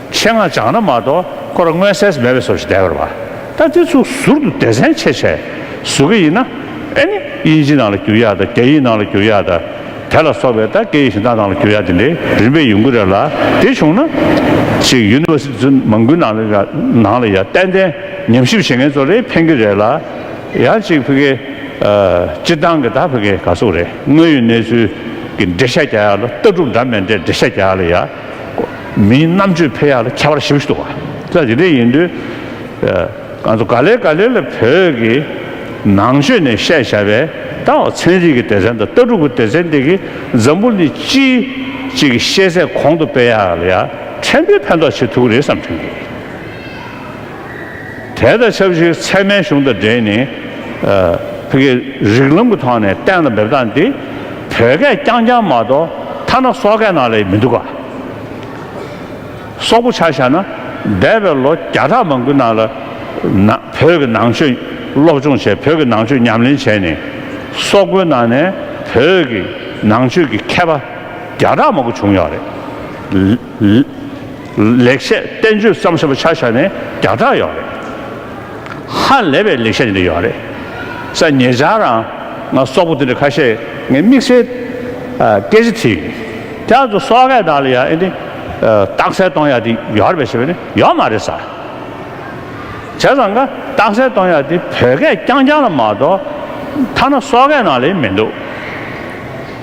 ཆེད་མངགས་སྦྱངས་ན་མ་གཏོགས་ཁོ་ར་སྔོན་སེལ་མེད་པའི་སོ་ཞིག་བསྡད་པར་བ། ད་དེ་ཚོ་ཟུར་དུ་སྡེ་ཚན་ཆེ་ཆེ་བཟོ་གི་ཡིན་ན། ཨེ་ནི་དབྱིན་ཇི་ནང་ལ་བསྒྱུར་ཡག་དང་རྒྱ་ཡིག་ནང་ལ་བསྒྱུར་ཡག་དང། དེ་ལ་སོགས་པའི་ད་སྐད་ཡིག་གཞན་དག་ནང་ལ་བསྒྱུར་ཡག་དེ་འདྲའི་རིམ་པས་ཡོང་གི་རེད་ལ་དེ་བྱུང་ན། ཅིག University ཚོ་མང་པོའི་ནང་ལ་ནང་ལ་ཡང་ཏན་ཏན་ཉམས་ཞིབ་བྱེད་མཁན་ཚོ་རེ་འཕེན་གི་རེད་ལ། ཡང་ཅིག་བྷི་གའི། སྤྱིར་བཏང་གི་ད་བྷི་གའི་ག་ཟུག་རེད་དངོས་ཡོད་གནས་ཚུལ་གི་འགྲེལ་བཤད་རྒྱག་ཡག་ལ་ལྟ་གྲུབ་འདྲ་མེད་འདྲའི་འགྲེལ་བཤད་རྒྱག་ཡག་ལ་ཡ། མིའི་རྣམ་དཔྱོད་འཕེལ་ཡག་ལ་ཁྱད་པར་ཞེ་བཞི་འདུག་ད་དེ་འདྲ་ཡིན་དུས། ག་ལེར་ག་ལེར་ལ་བོད་ཀྱི་ནང་ཆོས་ནས་བཤད་བྱ་བའི་ད་བར་ཚན་རིག་གི་སྡེ་ཚན་དང་ལྟ་གྲུབ་ཀྱི་སྡེ་ཚན་དེ་གི་འཛམ་བུ་ནི་སྤྱི་གཅིག་གི་ཤེས་ཚད་གོང་དུ་སྤེལ་ཡག་ལ་ཡ་ཕྲན་བུའི་ཕན་ཐོག་བྱེད་ཐུབ་ཀྱི་རེད་བསམ་དྲན་གྱི་ཡོད། དེ་དང་ཆབས་ཅིག་ཚད་མའི་གཞུང་དང་འབྲེལ་ནས་བོད་ཀྱི་རིགས་ལམ་གྱི་ཐོག་ནས་གཏན་ལ་འབེབས་སྟངས་འདི་བོད་སྐད་རྐྱང་རྐྱང་མ་གཏོགས་ཐ་ན་སོག་སྐད་ནང་ལས་མི་འདུག་ག། སོག་པོ་ཆ་བཞག་ན་འདས་པའི་ལོ་བརྒྱ་ཕྲག་མང་པོའི་ནང་ལ་བོད་ཀྱི་ནང་ཆོས་སློབ་སྦྱོང་བྱས་བོད་ཀྱི་ནང་ཆོས་ཉམས་ལེན་བྱས་ནས་སོག་པོའི་ནང་ནས་བོད་ཀྱི་ནང་ཆོས་ཀྱི་མཁས་པ་བརྒྱ་ཕྲག་མང་པོ་བྱུང་ཡོད་རེད། ལེགས་བཤད་བསྟན་བཅོས་བརྩམས་བཞག་པ་ཆ་བཞག་ནས་བརྒྱ་ཕྲག་ཡོད་རེད། ཧ་ལས་པའི་ལེགས་བཤད་འདི་ཡོད་རེད། ས་ངེད་ཅག་རང་ང་སོག་པོ་འདི་འདྲ་ཁ་ཤས་ངའི་དམིགས་བསལ་སྐད་ཆ་དེ་ཡིན། དེ་ང་ཚོ་སོག་སྐད་དག་ལ་ཡང་འདི་རྟགས་གསལ་གཏོང་ཡག་འདི་ཡོད་རེད་པ་ཞེས་པ་ནི་ཡོད་མ་རེད་ས། བྱས་ཙང་ང་རྟགས་གསལ་གཏོང་ཡག་འདི་བོད་སྐད་རྐྱང་རྐྱང་ལ་མ་གཏོགས་ཐ་ན་སོག་སྐད་ནང་ལ་ཡང་མི་འདུག།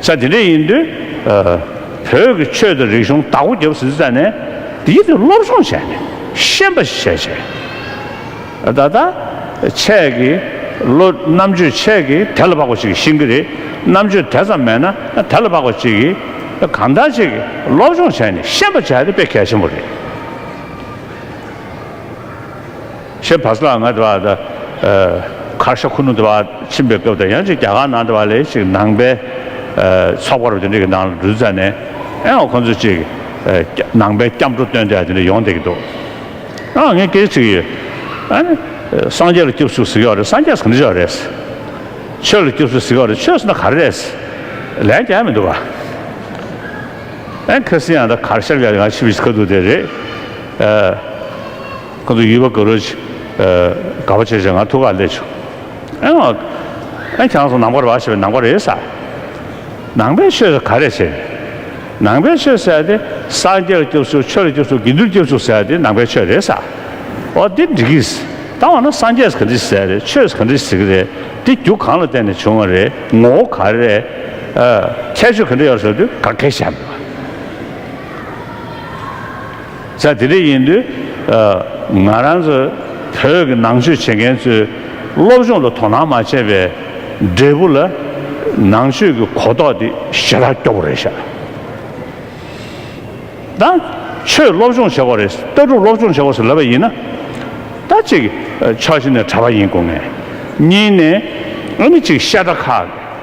ས་དེ་འདྲ་ཡིན་དུས། བོད་ཀྱི་ཆོས་དང་རིག་གཞུང་བདག་པོ་རྒྱབ་ཟིན་ས་ནས། འདིའི་ཐོད་སློབ་སྦྱོང་བྱས་ནས་ཤེས་པ་ཞིག་བྱས་བྱས། ད་ལྟ། ཆས་ཀྱི། ལོ། རྣམ་དཔྱོད་ཆས་ཀྱི་དལ་ལ་བབ་པ་ཞིག་གིས་ཤེས་ཀྱི་རེད། རྣམ་དཔྱོད་དེ་ཙམ་མེད་ན་དལ་ལ་བབ་པ་ཅིག་གིས། གང་ལྟར་ཅིག་སློབ་སྦྱོང་བྱས་ནས་ཤེས་པ་བྱས་ཏེ་དཔེ་གལ་ཆེན་པོ་རེད། ཞེས་བ་སླ་ང་དྲ་བ་དང། ཁར་ཤ་ཁུ་ནུ་དྲ་བ་ཕྱིན་པའི་སྐབས་དང་ཡང་ཅིག་རྒྱ་གར་ནང་དྲ་བ་ལས་ཤིག་ནང་པའི་ཚོགས་པ་རུ་དེ་འདྲ་གི་ནང་ལ་འགྲུལ་ཙ་ནས་ཨང་ཁོང་ཚོ་ཅིག་ནང་པའི་སྐྱབས་འགྲོ་སྟོན་འདྲ་དེ་འདྲ་ཡོང་བསྡད་ཀྱི་འདུག་ཨང་ངས་སྐད་ཆ་དྲིས་ཡོད། ཨང། སངས་རྒྱས་ལ་སྐྱབས་སུ་གཟིགས་ཡོག་རེད་སངས་རྒྱས་གང་འདྲ་ཡོག་རེད། ཆོས་ལ་སྐྱབས་སུ་གཟིགས་ཡོག་རེད་ཆོས་སོ་ན་ག་རེ་རེད། ལན་རྒྱག་མི་འདུག་ག། ཨང་ཁེར་སེ་ཡང་དང་ཁར་ཤར་ཡང་ཡང་ཕྱིན་པའི་ཁ་ཐུག་དེ་རེད། ཁོང་ཚོ་ཡུལ་བ་དགའ་རོགས། དགའ་བ་བྱས་བྱས་ང་ཐུགས་ཁག་བསླད་བྱུང། ཨེ། གྱང་སོང་ནང་པར་བ་ཞེས་པའི་ནང་པར་རེད་ས། ནང་པའི་ཆོས་ཟེར་ག་རེ་བྱེད། ནང་པའི་ཆོས་ཟེར་དེ་སངས་རྒྱས་ལ་སྐྱོབ་ཚུལ་ཆོས་ལ་སྐྱོབ་ཚུལ་དགེ་འདུན་སྐྱོབ་ཚུལ་ཟེར་དེ་ནང་པའི་ཆོས་རེད་ས། འོ་འདི་འགྲིག་གི། ད་འོ་ན་སངས་རྒྱས་ག་འདྲི་ཟེར་རེད་ཆོས་ག་འདྲི་ཟེར་གི་རེད་དེ་རྒྱུ་གང་ལ་བརྟེན་ནས་བྱུང་བ་རེད་ངོ་བོ་ག་རེ་རེད། ཁྱད་ཆོས་ག་འདྲི་ཡོད་ཟེར་དུས་ག་གེ་བྱ། ས་དེ་རིགས་ཡིན་དུས། ང་རང་ཚོ་བོད་ཀྱི་ནང་ཆོས་བྱེད་མཁན་ཚོས་སློབ་སྦྱོང་ལ་དོ་སྣང་མ་བྱས་པའི་འབྲས་བུ་ལ། ནང་ཆོས་ཀྱི་གོ་རྟོགས་དེ་ཞེ་དྲག་སྐྱོ་བོ་རེད་ཤག་ད། ཆོས་སློབ་སྦྱོང་བྱེད་དགོས་རེད་ལྟ་གྲུབ་སློབ་སྦྱོང་བྱེད་དགོས་སུ་ལབ་པ་ཡིན་ན། ད་གཅིག་ཕྱོགས་གཞི་ནས་གྲྭ་པ་ཡིན་དགོས་ངེས། གཉིས་ནས་ཨ་ནི་གཅིག་ཤ་ཁྲག་ཁ།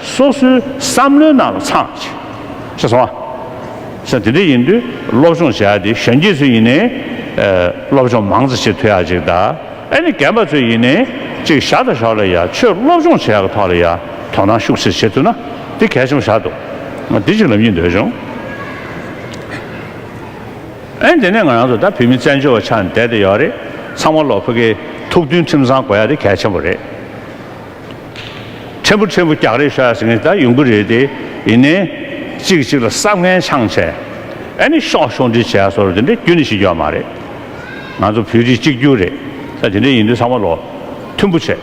སོ་སོའི་བསམ་བློའི་ནང་ལ་འཚང། ཞེས་སོང་ཨ། ས་དེ་འདྲ་ཡིན་དུས་སློབ་སྦྱོང་བྱ་ཡ་དེ་གཞོན་སྐྱེས་ཚོས་ཡིན་ནའི། སློབ་སྦྱོང་མང་ཙ་བྱེད་ཐུ་ཡ་ཅིག་ད། ཨེ་ནི་རྒན་པ་ཚོས་ཡིན་ནའི། ཅིག་ཞག་དང་ཞག་ལ་ཡ་ཆོས་སློབ་སྦྱོང་བྱེད་ཡ་གི་ཐོག་ལ་ཡ་དོ་སྣང་ཤུགས་ཆེར་བྱེད་ཐུ་ན་དེ་གལ་ཆེན་པོ་ཞག་འདུག་ང་དེ་ཅིག་ལབ་ཀྱིན་འདོད་བྱུང། ཨེ་དེ་ནས་ང་རང་ཚོ་ད་བུད་མེད་བཙན་བྱོལ་བ་ཆགས་ནས་བསྡད་དེ་ཡོད་རེད་ཚང་མ་ལོག་ཕོད་ཀི་ཐུགས་མཐུན་ཁྲིམས་གཙང་དགོས་ཡ་དེ་གལ་ཆེན་པོ་རེད། ཕྲན་བུ་ཕྲན་བུ་རྒྱག་རེས་བྱས་ཟིན་ད་ཡོང་གི་རེད་དེ། ཡིན་ནའི། གཅིག་གཅིག་ལ་བསམ་ངན་འཆང་བྱས། ཨེ་ནི་ཤོག་ཤོག་འདྲི་བྱས་སོར་དེ་འདྲའི་རྒྱུ་ནི་ཞིག་ཡོད་མ་རེད། ང་ཚོ་བོད་རིགས་གཅིག་གྱུར་རེད་ས་དེ་འདྲ་ཡིན་དུས་ཚང་མ་ལོ་མཐུན་པོ་བྱས།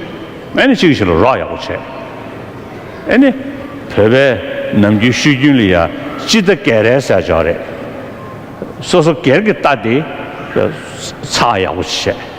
ཨེ་ནི་གཅིག་གཅིག་ལ་རོགས་ཡག་པོ་བྱས། ཨེ་ནི། བོད་པའི་ནམ་རྒྱུན་ཤོད་རྒྱུན་ལ་ཡ་སྤྱི་རྟ་སྐད་རལ་ཟེར་ཆོག་རེད། སོ་སོ་སྒེར་གྱི་རྟ་དེ། ཚགས་ཡག་པོ་བྱས།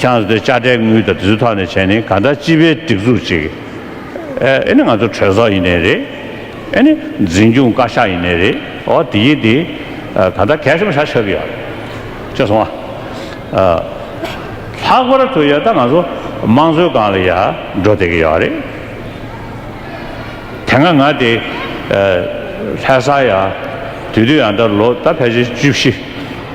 ཀྱང་དེ་དཔྱ་ཁྲལ་དངུལ་དང་དེ་ཚོའི་ཐོག་ནས་བྱས་ནས་གང་ལྟར་སྤྱི་པའི་སྒྲིག་འཛུགས་ཅིག་ཨེ་ཨེ་ནི་ང་ཚོ་གྲོས་ཚོགས་ཡིན་ནི་རེད་ཨེ་ནི་འཛིན་སྐྱོང་བཀའ་ཤག་ཡིན་ནི་རེད་འོ་དེ་ཡིན་དེ་གང་ལྟར་གལ་གསུམ་བྱ་ཆོག་གི་ཡོད་ཅེས་གསུངས་བ། ལྷག་པར་དུ་ཡང་ད་ང་ཚོ་དམངས་གཙོའི་སྒང་ལ་ཡང་འགྲོ་བསྡད་ཀྱི་ཡོད་རེད། དེ་སྔ་ང་དེ་ལྷས་བཟའ་ཡང་དུས་དུས་ཡང་ད་ལོ་ད་ཕལ་ཆེར་བཅུ་བཞི།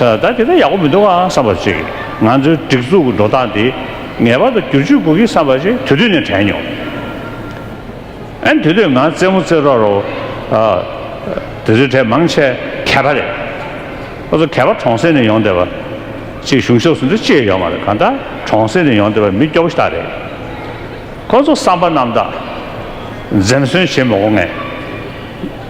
ད་དེ་འདྲ་ཡག་པོ་མི་འདུག་ཨང་བསམ་པ་ཅིག་ང་ཚོའི་སྒྲིག་འཛུགས་ཀྱི་འགྲོ་སྟངས་འདི་ངེས་པར་དུ་བསྒྱུར་བཅོས་དགོས་ཀི་བསམ་པ་ཅིག་དུས་དུས་ནས་དྲན་མྱོང། ཨན་དུས་དུས་ང་རྩེད་མོ་རྩེད་རོགས་རོགས། དུས་དུས་གྲས་མང་ཆེ་གད་པ་རེད། ཁོ་ཚོ་གད་པ་གྲོང་གསེབ་ནས་ཡོང་བསྡད་པ། ཅིག་གཞུང་ཕྱོགས་སུ་འདི་ཅི་ཡང་ཡོད་མ་རེད་གང་ལྟར་གྲོང་གསེབ་ནས་ཡོང་བསྡད་པ་མི་སྐྱོ་པོ་ཞིག་དག་རེད། ཁོ་ཚོ་བསམ་པ་རྣམས་དག་འཛེམ་ཟོན་བྱེད་མི་འོང་ངེས།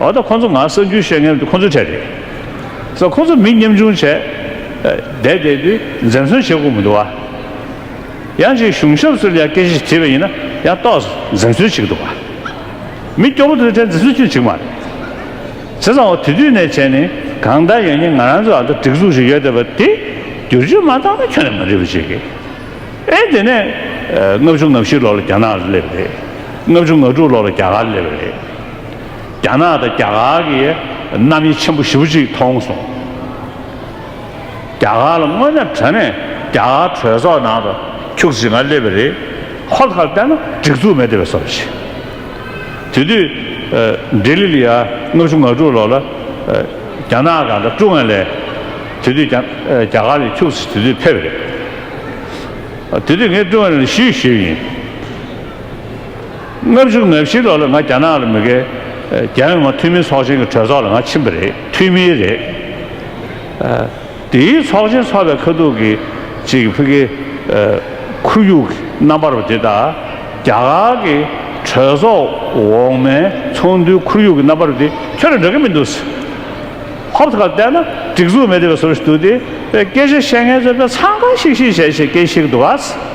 འོ་ད་ཁོ་ཚོ་ང་གསར་འགྱུར་བཤད་མཁན་དེ་ཁོ་ཚོའི་གྲས་རེད། ས་ཁོ་ཚོ་མི་ཉམ་ཆུང་བྱས། བསྡད་བསྡད་དུས་འཛེམ་ཟོན་བྱེད་དགོས་མི་འདུག་བ། ཡང་ཅིག་གཞུང་ཞབས་སུ་ལ་སྐད་ཅིག་དྲིས་པ་ཡིན་ན་ཡང་ཏོག་འཛེམ་ཟོན་བྱེད་ཀྱི་འདུག་བ། མི་སྐྱོ་པོ་དེ་ཚོའི་གྲས་འཛེམ་ཟོན་བྱེད་ཀྱི་མ་རེད། བྱས་ཙང་འོ་དེ་དུས་ནས་བྱས་ནས་གང་ལྟར་ཡང་ཉིན་ང་རང་ཚོའི་ཨ་མདོ་སྒྲིག་འཛུགས་ཞིག་ཡོད་བསྡད་པ་དེ་བསྒྱུར་བཅོས་མ་བཏང་ན་ཁྱོན་ནས་མ་འགྲིག་པ་བྱེད་ཀྱི། ཨེ་དེ་ནས། ལྔ་བཅུ་ང་བཞི་ལོར་ལ་རྒྱ་ནག་ལ་སླེབས་པ་རེད། ལྔ་བཅུ་ང་དྲུག་ལོར་ལ་རྒྱ་གར་སླེབས་པ་རེད། རྒྱ་ནག་དང་རྒྱ་གར་གྱི་རྣམ་དབྱེ་ཆེན་པོ་བཞི་བོ་ཅིག་མཐོང་སོང། རྒྱ་གར་ལ་དངོས་གནས་བྲོས་ནས་རྒྱ་གར་གྲོས་ཚོགས་ནང་དུ་ཁྱུག་ཅིག་ང་སླེབས་པ་རེད། ཁོ་ལ་ལྟས་ན་སྒྲིག་འཛུགས་མེད་དེ་བས་སོ་བྱས། དེ་དུས་ལྡི་ལི་ལི་ཡ་ལྔ་བཅུ་ང་དྲུག་ལོར་ལ་རྒྱ་ནག་གང་དྲག་ཀྲུང་ཨའི་ལས་དེ་དུས་རྒྱ་གར་ལས་ཁྱུག་ཅིག་དེ་དུས་ཕེབས་རེད། དེ་དུས་ངས་ཀྲུང་ཨའི་ལས་ཞུས་ཞུས་ཡིན། ལྔ་བཅུ་ང་བཞི་ལོར་ལ་ང་རྒྱ་ནག་ལ་མི་དགའི། རྒྱལ་ཡོངས་ང་འཐུས་མི་ཚོགས་ཆེན་གྱི་གྲོས་ཚོགས་ལ་ང་ཕྱིན་པ་རེད་འཐུས་མི་རེད། དེའི་ཚོགས་ཆེན་ཚོགས་པའི་ཁ་ཐུག་གི་ཅིག་གི་ཕི་གེ། ཁུ་ཡུག་གི་རྣམ་པར་བ་དེ་དག་རྒྱ་གར་གྱི་གྲོས་ཚོགས་འོག་མའི་ཚོགས་འདུའི་ཁུ་ཡུག་གི་རྣམ་པར་བ་དེ་ཁྱོད་ལ་འདྲ་གི་མི་འདུག་ཟེར། ཧོབ་ཁ་བལྟས་ན་སྒྲིག་འཛུགས་མེད་བསྡད་པ་ཟུར་ཞིག་འདུག་དེ་སྐད་ཆ་བཤད་མཁན་ཚོས་དཔེ་ཚང་གང་ཞིག་ཞིག་བྱས་ཞེས་སྐད་ཤིག་འདུག་ག་ཟེར།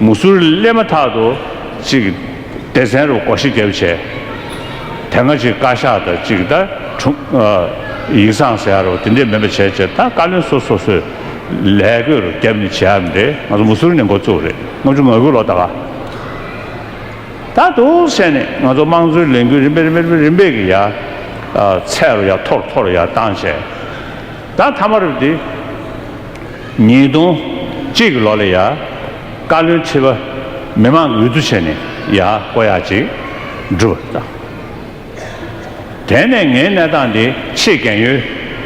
མུ་ཟུར་སླེབས་མ་ཐག་ཏུ་གཅིག་སྡེ་ཚན་རུ་སྒོ་ཤི་རྒྱབ་བྱས། དེ་སྔ་གཅིག་བཀའ་ཤག་དང་གཅིག་ད་དྲུག་ཡིག་ཚང་ཟེར་ཡ་རོ་དེ་འདྲས་མེད་པ་བྱས་བྱས་ད་བཀའ་བློན་སོ་སོ་སོས་ལས་སྒོས་རུ་རྒྱབ་ནས་བྱས་ཡམ་རེད་ང་ཚོ་མུ་ཟུར་ནས་འགོ་བཙུགས་རེད་ལྔ་བཅུ་ང་དགུ་ལོ་ད་ག་ད་འདུག་བྱས་ནས་ང་ཚོ་དམངས་གཙོའི་ལས་འགུལ་རིམ་པས་རིམ་པས་རིམ་པས་རིམ་པས་ཀྱི་ཡ་ཚད་རུ་ཡ་མཐོ་རུ་མཐོ་རུ་ཡ་བཏང་བྱས། ད་ཐ་མ་རུ་འདི། ཉིས་སྟོང་གཅིག་གི་ལོ་ལ་ཡ། བཀའ་བློན་ཁྲི་པ་མི་མང་གི་འོས་བསྡུ་བྱས་ནས་ཡ་བསྐོ་ཡག་ཅིག་བསྒྲུབ་པར་བཏང། དེ་ནས་ངའི་གནས་སྟངས་འདི་ཆེས་གལ་ཡོད་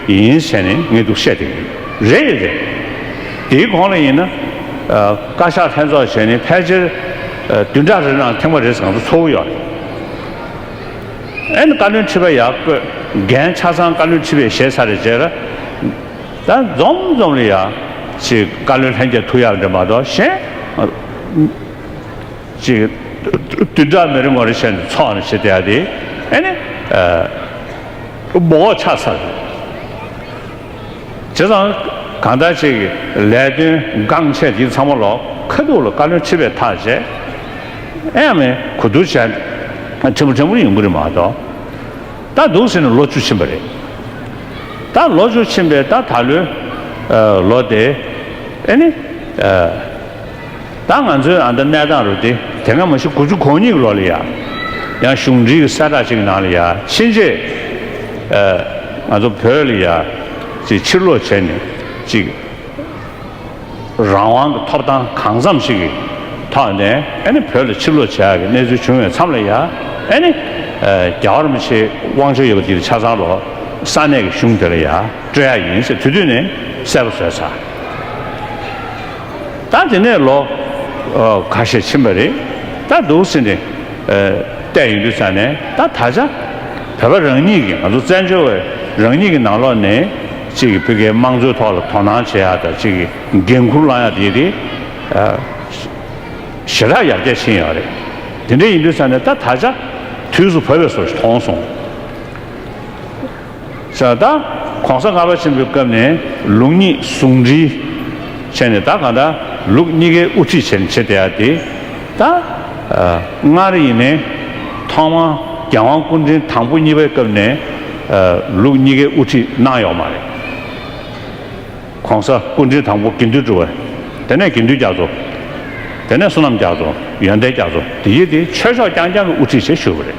ཡིན་ཟེར་ནས་ངས་འདུག་བཤད་དེ་ཡིན། རེད་ཡིན་རེད། དེའི་གོང་ལ་ཡིན་ན། བཀའ་ཤག་ལྷན་ཚོགས་བྱས་ནས་ཕལ་ཆེར་བདུན་ཕྲག་རེ་ནང་ཐེངས་པ་རེ་ཟང་ཚོ་འཚོགས་ཀྱི་ཡོད་རེད། ཨན། བཀའ་བློན་ཁྲི་པ་ཡག་པོས་འགན་ཆ་ཚང་བཀའ་བློན་ཁྲི་པས་བཞེས་ཚར་རེད་ཅེས་ར། ད་འཛོམ་འཛོམ་ལ་ཡག། ཅེས་བཀའ་བློན་ལྷན་རྒྱས་ཐུགས་ཡག་འདྲེ་མ་གཏོགས་གཞན། ཅེས། དུས་འདྲ་མི་རེ་ངོ་རེ་བྱས་ནས་ཚོགས་ནས་བྱེད་བསྡད་ཡ་དེ། ཨན། འབོག་ཆགས་ཚར། བྱས་ཙང། གང་ལྟར་ཅིག་ལས་དོན་འགངས་ཆེ་འདི་ཚང་མ་ལ་ཁ་སྡུག་ལ་བཀའ་བློན་ཁྲི་བས་ཐག་བཅད། ཨེ་ཡ་མེན་གོ་བསྡུར་བྱས་ན་ཕྲན་བུ་ཕྲན་བུ་ཡོང་གི་རེད་མ་གཏོགས། ད་འདུག་ཟེར་ནས་ལོ་བཅུ་ཕྱིན་པ་རེད། ད་ལོ་བཅུ་ཕྱིན་པས་ད་ད་ལོའི་ལོ་དེ་ཨེ་ནི། ད་ང་ཚོའི་ཨ་མདོ་གནས་སྟངས་རུ་དེ་དེ་སྔ་མ་ཞིག་དགུ་བཅུ་གོ་གཉིས་ཀྱི་ལོ་ལ་ཡང་ཡང་གཞུང་འབྲེལ་གྱི་གསལ་བསྒྲགས་གཅིག་གི་ནང་ལ་ཡང་ཕྱིན་ཆད་ང་ཚོ་བོད་ལ་ཡང་ཅིག་ཕྱིར་ལོག་བྱས་ནས་ཅིག་རང་དབང་གི་ཐོབ་ཐང་གང་འཚམ་ཞིག་གི་ཐོག་ནས་ཨ་ནི་བོད་ལ་ཕྱིར་ལོག་བྱ་ཡག་གི་གནས་ཚུལ་བྱུང་བའི་མཚམས་ལ་ཡང་ཨ་ནི་རྒྱ་གར་མི་ཆེ་དབང་ཆ་ཡོད་པ་དེ་ཆ་ཚང་ལོ་ས་གནས་ཀྱི་གཞུང་དེ་ལ་ཡང་སྤྲོད་ཡག་ཡིན་ཟེར་དུས་དུས་ནས་གསལ་པོ་བཟོས་ཚར། ད་དེ་ནས་ལོ་ག་ཤས་ཕྱིན་པ་རེད་ད་འདུག་ཟེར་ནས་བལྟས་ཡོང་དུས་ཙང་ནས་ད་ད་ཆ་བོད་པ་རང་ཉིད་ཀྱིས་ང་ཚོ་བཙན་བྱོལ་བས་རང་ཉིད་ཀྱི་ནང་ལོགས་ནས་གཅིག་གི་བོད་སྐད་དམངས་གཙོའི་ཐོག་ལ་དོ་སྣང་བྱེད་ཡག་དང་གཅིག་གི་འགན་འཁུར་བླང་ཡག་དེ་དེ་ཞེ་དྲག་ཡར་རྒྱས་ཕྱིན་ཡག་རེད་དེ་འདྲ་ཡིན་དུས་ཙང་ནས་ད་ད་ཆ་དུས་སུ་བོད་པའི་སོ་མཐོང་སོང། ས་དང། གོང་ས་ལྔ་པ་ཆེན་པོའི་སྐབས་ནས་ལུགས་གཉིས་ཟུང་འབྲེལ་བྱས་ནས་ད་གང་ལྟར་ལུགས་གཉིས་ཀའི་དབུ་ཁྲིད་བྱེད་བྱེད་བསྡད་དེ། ད་སྔར་ཡིན་ནའི། ཐོག་མར་རྒྱལ་དབང་སྐུ་ཕྲེང་དང་པོ་གཉིས་པའི་སྐབས་ནས་ལུགས་གཉིས་ཀའི་དབུ་ཁྲིད་གནང་ཡོག་མ་རེད། གོང་ས་སྐུ་ཕྲེང་དང་པོ་དགེ་འདུན་གྲུབ། དེ་ནས་དགེ་འདུན་རྒྱ་མཚོ། དེ་ནས་བསོད་ནམས་རྒྱ་མཚོ། ཡོན་ཏན་རྒྱ་མཚོ་དེ་བཞི་དེ་ཆོས་ཕྱོགས་རྐྱང་རྐྱང་གི་དབུ་ཁྲིད་བྱེད་ཞུ་བ་རེད།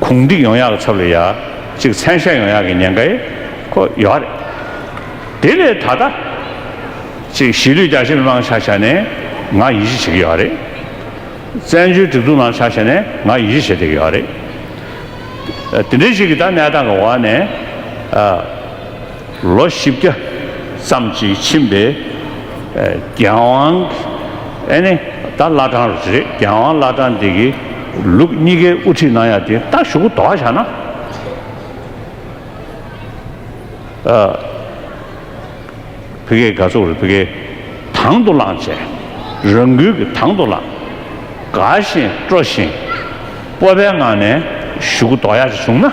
གུང་སྒྲིག་ཡོང་ཡག་གི་ཚབ་ལ་ཡག་གཅིག་མཚན་ཤ་ཡོང་ཡག་གི་ཉན་ཁ་ཡེ་ཁོ་ཡོག་རེད། དེ་ལས་ད་ལྟ། ཅིག་གཞིས་ལུས་རྒྱ་ཆེ་མི་མང་ཆ་ཆ་ནས་ང་ཡིད་གཞི་བྱེད་ཀྱི་ཡོག་རེད། བཙན་བྱོལ་སྒྲིག་འཛུགས་ནང་ཆ་ཆ་ནས་ང་ཡིད་གཞི་བྱེད་བསྡད་ཀྱི་ཡོག་རེད། དེ་འདྲའི་ཞིག་གི་ད་གནས་སྟངས་ཀྱི་འོག་ནས། ལོ་བཞི་བརྒྱ་ཙམ་གྱིས་ཕྱིན་པའི་རྒྱལ་དབང་ཨེ་ནི་ད་བླ་བྲང་རེད་རྒྱལ་དབང་བླ་བྲང་འདི་གི་ལུགས་གཉིས་ཀའི་དབུ་ཁྲིད་གནང་ཡ་དེ་ལྟ་ཞུ་གུ་དོག་བྱ་ན་ཕི་ཀེ་དགའ་ཚོགས་རེད་ཕི་ཀེ་དང་དུ་བླངས་བྱས་རང་འགུལ་གྱི་དང་དུ་བླངས་དགའ་བཞིན་སྤྲོ་བཞིན་སྤོབས་པའི་ངང་ནས་ཞུ་གུ་དོག་ཡ་བྱུང་ན།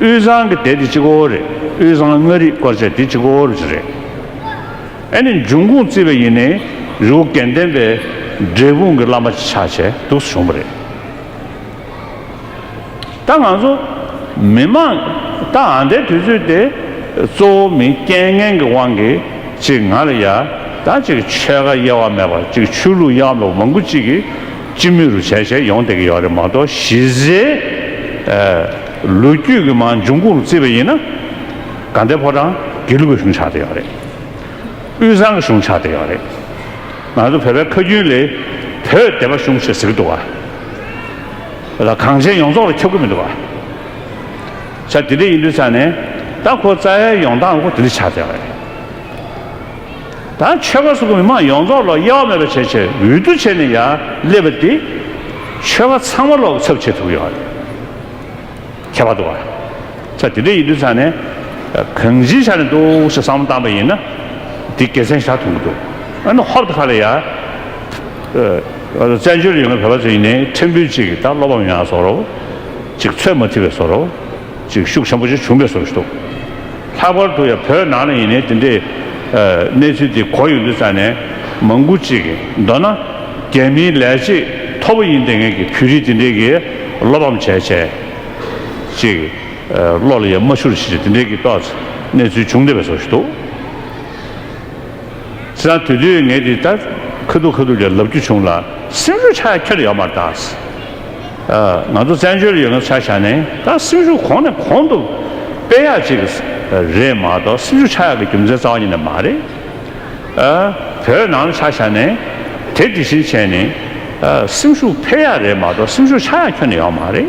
དབུས་གཙང་གི་དེ་དེ་གཅིག་བོ་རེད་དབུས་གཙང་མངའ་རིས་སྐོར་ཆ་དེ་གཅིག་བོ་རེད། ཨ་ནི་འབྱུང་ཁུངས་རྩིས་པ་ཡིན་ནའི་རི་བོ་དགེ་ལྡན་པའི་འབྲས་སྤུངས་གི་བླ་མ་ཆ་བྱས་འདུག་བྱུང་བ་རེད། ད་ང་ཚོ་མི་དམངས་ད་ཨ་འདའི་དུས་ཚོད་དེ་གཙོ་བོ་མི་རྐྱེན་ངན་གི་དབང་གིས་ཅིག་ང་ལ་ཡ་ད་ཅིག་ཆོལ་ཁ་དབྱེ་བ་མེད་པ་ཅིག་ཆོས་ལུགས་དབྱེ་བ་མེད་པ་མང་པོ་ཅིག་གིས་སྤྱི་མི་རུ་བྱས་བྱས་ཡོང་བསྡད་ཀྱི་ཡོད་རེད་མ་གཏོགས་གཞི་རྩའི་ལོ་རྒྱུས་ཀྱི་མང་འབྱུང་ཁུངས་རུ་བརྩིས་པ་ཡིན་ན། དགའ་ལྡན་ཕོ་བྲང་དགེ་ལུགས་ཀྱི་གཞུང་ཆགས་བསྡད་ཡོད་རེད། དབུས་གཙང་གི་གཞུང་ཆགས་བསྡད་ཡོད་རེད། ང་ཚོ་བོད་པའི་ཁ་རྒྱུན་ལས་བོད་སྡེ་པ་གཞུང་ཞེས་ཟེར་གྱི་འདུག་བ། ལ་གངས་ཅན་ཡོངས་རྫོགས་ལ་ཁྱབ་ཀྱི་མི་འདུག་བ། ཆ་དེ་འདྲ་ཡིན་དུས་ས་ནས་ད་ཁོ་རྩ་ཡ་ཡོང་སྟངས་ཁོ་དེ་འདྲ་ཆགས་བསྡད་ཡོད་རེད། དང་ཆོལ་ཁ་སོགས་ཀྱི་མི་མང་ཡོངས་རྫོགས་ལ་དབྱེ་བ་མེད་པར་བྱེད་ཆེད་འོས་བསྡུ་བྱས་ནས་ཡར་སླེབས་པ་དེ། ཆོལ་ཁ་ཚང་མ་ལོག་ཚབ་བྱེད་ཐུབ་ཀྱི་ཡོད་པ་རེད། ཁྱད་པར་དུ། ཚ་དེ་འདྲའི་ཡིན་དུས་ཚང་ནས་གང་ཅིའི་ཆ་ནས་འདུག་ཞེས་བསམ་བློ་བཏང་པ་ཡིན་ན། དེ་དགེ་མཚན་ཞག་ཐོན་གྱི་འདུག་ཨ་ནུ་ཧོབ་ཏུ་ཁ་ལ་ཡར། བཙན་བྱོལ་ཡོང་མཁན་བོད་པ་ཚོ་ཡིན་ནའི་ཁྲིམས་དཔོན་གཅིག་གིས་ད་སློབ་བམ་ཡང་བཟོ་རོགས། ཅིག་ཚོད་མ་ཐིག་པའི་བཟོ་རོགས། ཅིག་ཤུགས་ཆེན་པོ་ཞིག་བྱུང་པའི་སོ་ཞིག་འདུག་ལྷག་པར་དུ་ཡང་བོད་ནང་ལ་ཡིན་ནའི་དེ་འདྲའི་གནས་ཚུལ་དེ་གོ་ཡོང་དུས་ས་གནས་མང་པོ་ཅིག་གིས་མདོར་ན་རྒྱ་མིའི་ལས་བྱེད་མཐོ་པོ་ཡིན་ལྡན་མཁན་གྱི་བོད་རིགས་དེ་འདྲའི་གིས་བློ་ཕམ་བྱས་བྱས་ཅིག་བློ་ལ་ཡང་མ་ཤོར་ཞིག་ཅིག་དེ་འདྲའི་གིས་ཏོག་ཙེ་གནས་ཚུལ་བྱུང་བསྡད་པའི་སོ་ཞིག་འདུག། སྲིད་ན་དུས་དུས་ངས་འདི་ལྟར་ཁུ་དུག་ཁུ་དུག་ཅིག་ལབ་རྒྱུ་བྱུང་ལ་སེམས་ཤུགས་ཆག་ཁྱེར་ཡོད་མ་ཐག་ང་ཚོ་བཙན་བྱོལ་ཡོད་སྐབས་ཆ་བཞག་ནས་ད་སེམས་ཤུགས་གོང་ནས་གོང་དུ་སྤེལ་ཡག་ཅིག་རེད་མ་གཏོགས་སེམས་ཤུགས་ཆག་ཡག་གི་རྒྱུ་མཚན་རྩ་བ་ཉིད་ནས་མ་རེད། བོད་ནང་ལ་ཆ་བཞག་ནས་དེ་འདི་བཞིན་བྱས་ནས་སེམས་ཤུགས་འཕེལ་ཡག་རེད་མ་གཏོགས་སེམས་ཤུགས་ཆག་ཡག་ཁྱོན་ནས་ཡོང་མ་རེད།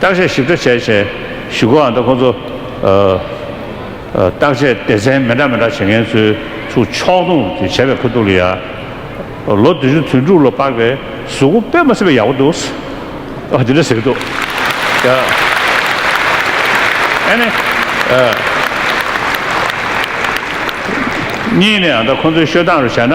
བརྟག་དཔྱད་ཞིབ་ཕྲ་བྱས་བྱས་ཞུ་གོ་འང་ད་ཁོང་ཚོ། བརྟག་དཔྱད་སྡེ་ཚན་མི་འདྲ་མི་འདྲ་བྱེད་མཁན་ཚོའི་ཚུགས་ཕྱོགས་སྟོང་དུ་བྱས་པའི་ཁུ་ཐུག་ལ་ཡ། ལོ་དུས་ཆུང་དུས་འབྲུག་ལོ་པགས་པའི་གཟུགས་སྐུ་དཔེ་མ་ཟེར་བའི་ཡག་པོ་འདུག། འོ་དེ་འདྲ་ཟེར་གི་འདུག། ད་ཨ་ནི། གཉིས་ནས་འང་ད་ཁོང་ཚོའི་ཤོད་སྟངས་རུ་བྱས་ན།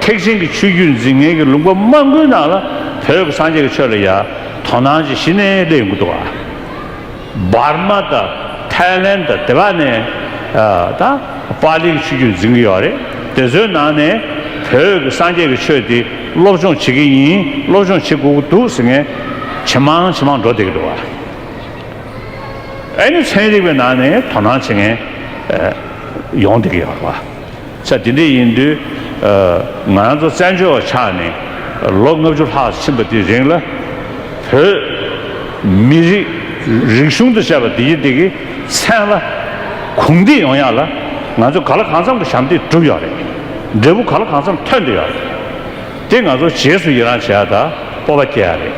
ཐེག་ཆེན་གྱི་ཆོས་བརྒྱུད་འཛིན་མཁན་གྱི་ལུང་པ་མང་པོའི་ནང་ལ་བོད་ཀྱི་སངས་རྒྱས་ཀྱི་ཆོས་ལ་ཡང་དོ་སྣང་བྱེད་གཞི་ནས་སླེབས་ཡོང་གི་འདུག་ཨ། འབར་མ་དང་ཐའི་ལན་དང་དེ་བ་ནས་དང་པཱ་ལིའི་ཆོས་བརྒྱུད་འཛིན་གྱི་ཡོད་རེད་དེ་ཚོའི་ནང་ནས་བོད་ཀྱི་སངས་རྒྱས་ཀྱི་ཆོས་དེ་སློབ་སྦྱོང་བྱེད་ཀྱི་ཡིན་སློབ་སྦྱོང་བྱེད་དགོས་ཀྱི་འདུག་ཟེར་མཁན་ཇེ་མང་ཇེ་མང་འགྲོ་བསྡད་ཀྱི་འདུག་ཨ། ཨ་ནི་ཚན་རིག་པའི་ནང་ནས་དོ་སྣང་བྱེད་མཁན་ཡོང་བསྡད་ཀྱི་ཡོད་རེད་པ། ཆ་དེ་འདྲ་ཡིན་དུས། ང་རང་ཚོ་བཙན་བྱོལ་བ་ཆགས་ནས་ལོ་ལྔ་བཅུ་ལྷག་ཕྱིན་པ་དེའི་རིང་ལ། བོད། མི་རིགས། རིག་གཞུང་དུ་བཤད་པ་དེ་གྱིས་དེ་གི་མཚན་ལ། གུང་བསྟི་ཡོང་ཡག་ལ། ང་ཚོས་ག་ལ་གང་འཚམ་གྱི་ཞབས་འདེགས་བསྒྲུབ་ཡག་རེད། འབྲས་བུ་ག་ལ་གང་འཚམ་ཐོན་འདོད་ཡག་རེད། དེ་ང་ཚོ་བྱེས་སུ་ཡི་རང་བྱེད་ཡག་དང་སྤོབས་པ་སྐྱེ་ཡག་རེད།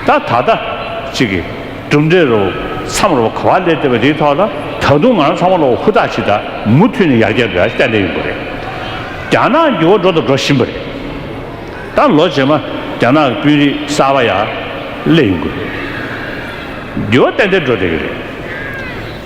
ད་ད་ལྟ། གཅིག་གི། གྲུབ་འབྲས་རུ་མཚམས་རུ་ག་བ་ལས་བཏོད་པའི་དེའི་ཐོག་ལ་ད་དུང་ང་རང་ཚང་མ་ལ་ཧུར་ཐག་ཞིག་དང་མུ་མཐུད་ནས་ཡར་རྒྱས་འགྲོ་ཡ་གཏན་གཏན་ཡོད་དགོས་རེད། རྒྱ་ནག་འགྱུར་བ་འགྲོ་དང་འགྲོ་བཞིན་པ་རེད། ད་ལོ་རྗེས་མ་རྒྱ་ནག་གི་དཔོན་རིགས་གསར་བ་ཡར་སླེབས་ཡོང་གི་རེད། འགྱུར་བ་ཏན་ཏན་འགྲོ་བསྡད་ཀྱི་རེད།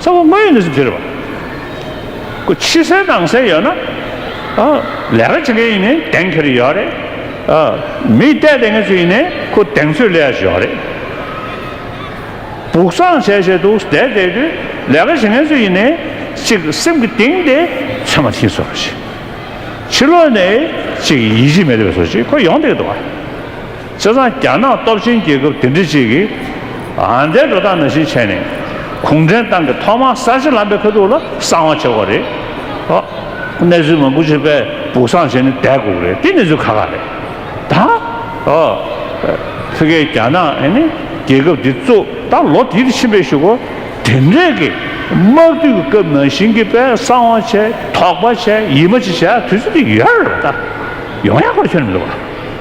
ཚ་བ་དངོས་ཡོད་ནས་སུ་གྱེར་བ། ཁོ་ཕྱི་གསལ་ནང་གསལ་ཡོད་ན། ལས་ཀ་བྱེད་མཁན་ཡིན་ནའི་གདེང་འཁེལ་ཡོད་རེད། མི་བལྟས་བསྡད་མཁན་ཚོ་ཡིན་ནའི་ཁོ་གདེང་ཚོད་སླེ་ཡ་ཞོག་རེད། སྦུག་སངས་བྱས་བྱས་འདུག་བསྡད་བསྡད་དུས་ལས་ཀ་བྱེད་མཁན་ཚོ་ཡིན་ནའི་ཅིག་སེམས་ཀྱི་གཏིང་དེ་ཚོད་མ་ཐིངས་སོ་ཞེས། ཕྱི་ལོག་ནས་ཅིག་ཡིད་ཆེས་མེད་པའི་སོ་ཞེས་ཁོ་ཡོང་བསྡད་འདུག་ཨ། བཙན་བཟང་རྒྱ་ནག་སྟོབས་ཆེན་རྒྱལ་ཁབ་དེ་འདྲི་གཅིག་གིས་ཨང་དེ་འགྲོ་སྟངས་ནང་བཞིན་བྱས་ནས་གུང་ཁྲན་ཏང་གི་ཐོག་མར་གསར་བརྗེ་ལམ་པའི་ཁ་ཐུག་ལ་གསང་བ་བྱེད་དགོས་རེད། གནས་ཚུལ་མང་པོ་བྱེད་པའི་སྦུག་གསང་བྱས་ནས་བསྡད་དགོས་རེད་དེ་གནས་ཚུལ་ཁ་ཁ་རེད་ད། ཕི་ཀའི་རྒྱ་ནག་རྒྱལ་ཁབ་འདི་གཙོ་ད་ལོ་དེ་རིགས་ཕྱིན་པའི་ཞུ་སྒོ་དེ་འདྲས་ཀྱི་དམག་དུས་ཀྱི་སྐབས་ནང་བཞིན་གྱི་པའི་གསང་བ་བྱས་དོགས་པ་བྱས་ཡིད་མ་ཆེས་བྱས་དུས་ཚོད་དེ་ཡོད་རེད་ད་ཡོང་ཡག་པོར་ཁྱོན་མི་འདུག་བ།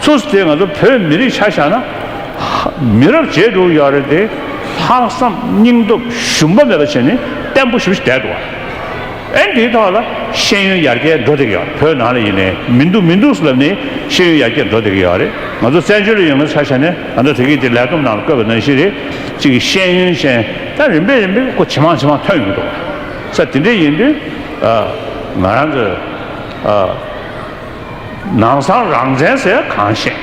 ཚུ་ཚུ་དེ་ང་ཚོ་བོད་མི་རིགས་ཆ་བཞག་ན། མི་རབས་བརྗེས་འགྲོ་ཡག་རེད་དེ། ལྷག་བསམ་སྙིང་སྟོབས་ཞུམ་པ་མེད་པ་བྱས་ནས་བརྟན་པོ་ཞུ་བཞི་དད་དོ། ཨེ་འདིའི་ཐོག་ལ་ཤེས་ཡོན་ཡར་རྒྱས་འགྲོ་བསྡད་གི་ཡག་བོད་ནང་ལ་ཡིན་ནའི་མི་འདུག་མི་འདུག་སུ་ལབ་ནའི་ཤེས་ཡོན་ཡར་རྒྱས་འགྲོ་བསྡད་གི་ཡག་རེད་ང་ཚོ་བཙན་བྱོལ་ལ་ཡོང་ན་ཆ་བཞག་ནས་ང་ཚོ་དེ་གི་དེ་ལས་བསྡོམས་ནང་ལ་བཀོད་པ་ནང་བཞིན་རེད་ཅིག་གི་ཤེས་ཡོན་ཅན་ད་རིམ་པས་རིམ་པས་སྐོ་ཇེ་མང་ཇེ་མང་ཐོན་ཡོང་གི་འདུག་ས་དེ་འདྲས་ཡིན་དུས་ང་རང་གི་ཨ། ནང་སང་རང་བཙན་ཟེར་ཡ་གང་བཤད།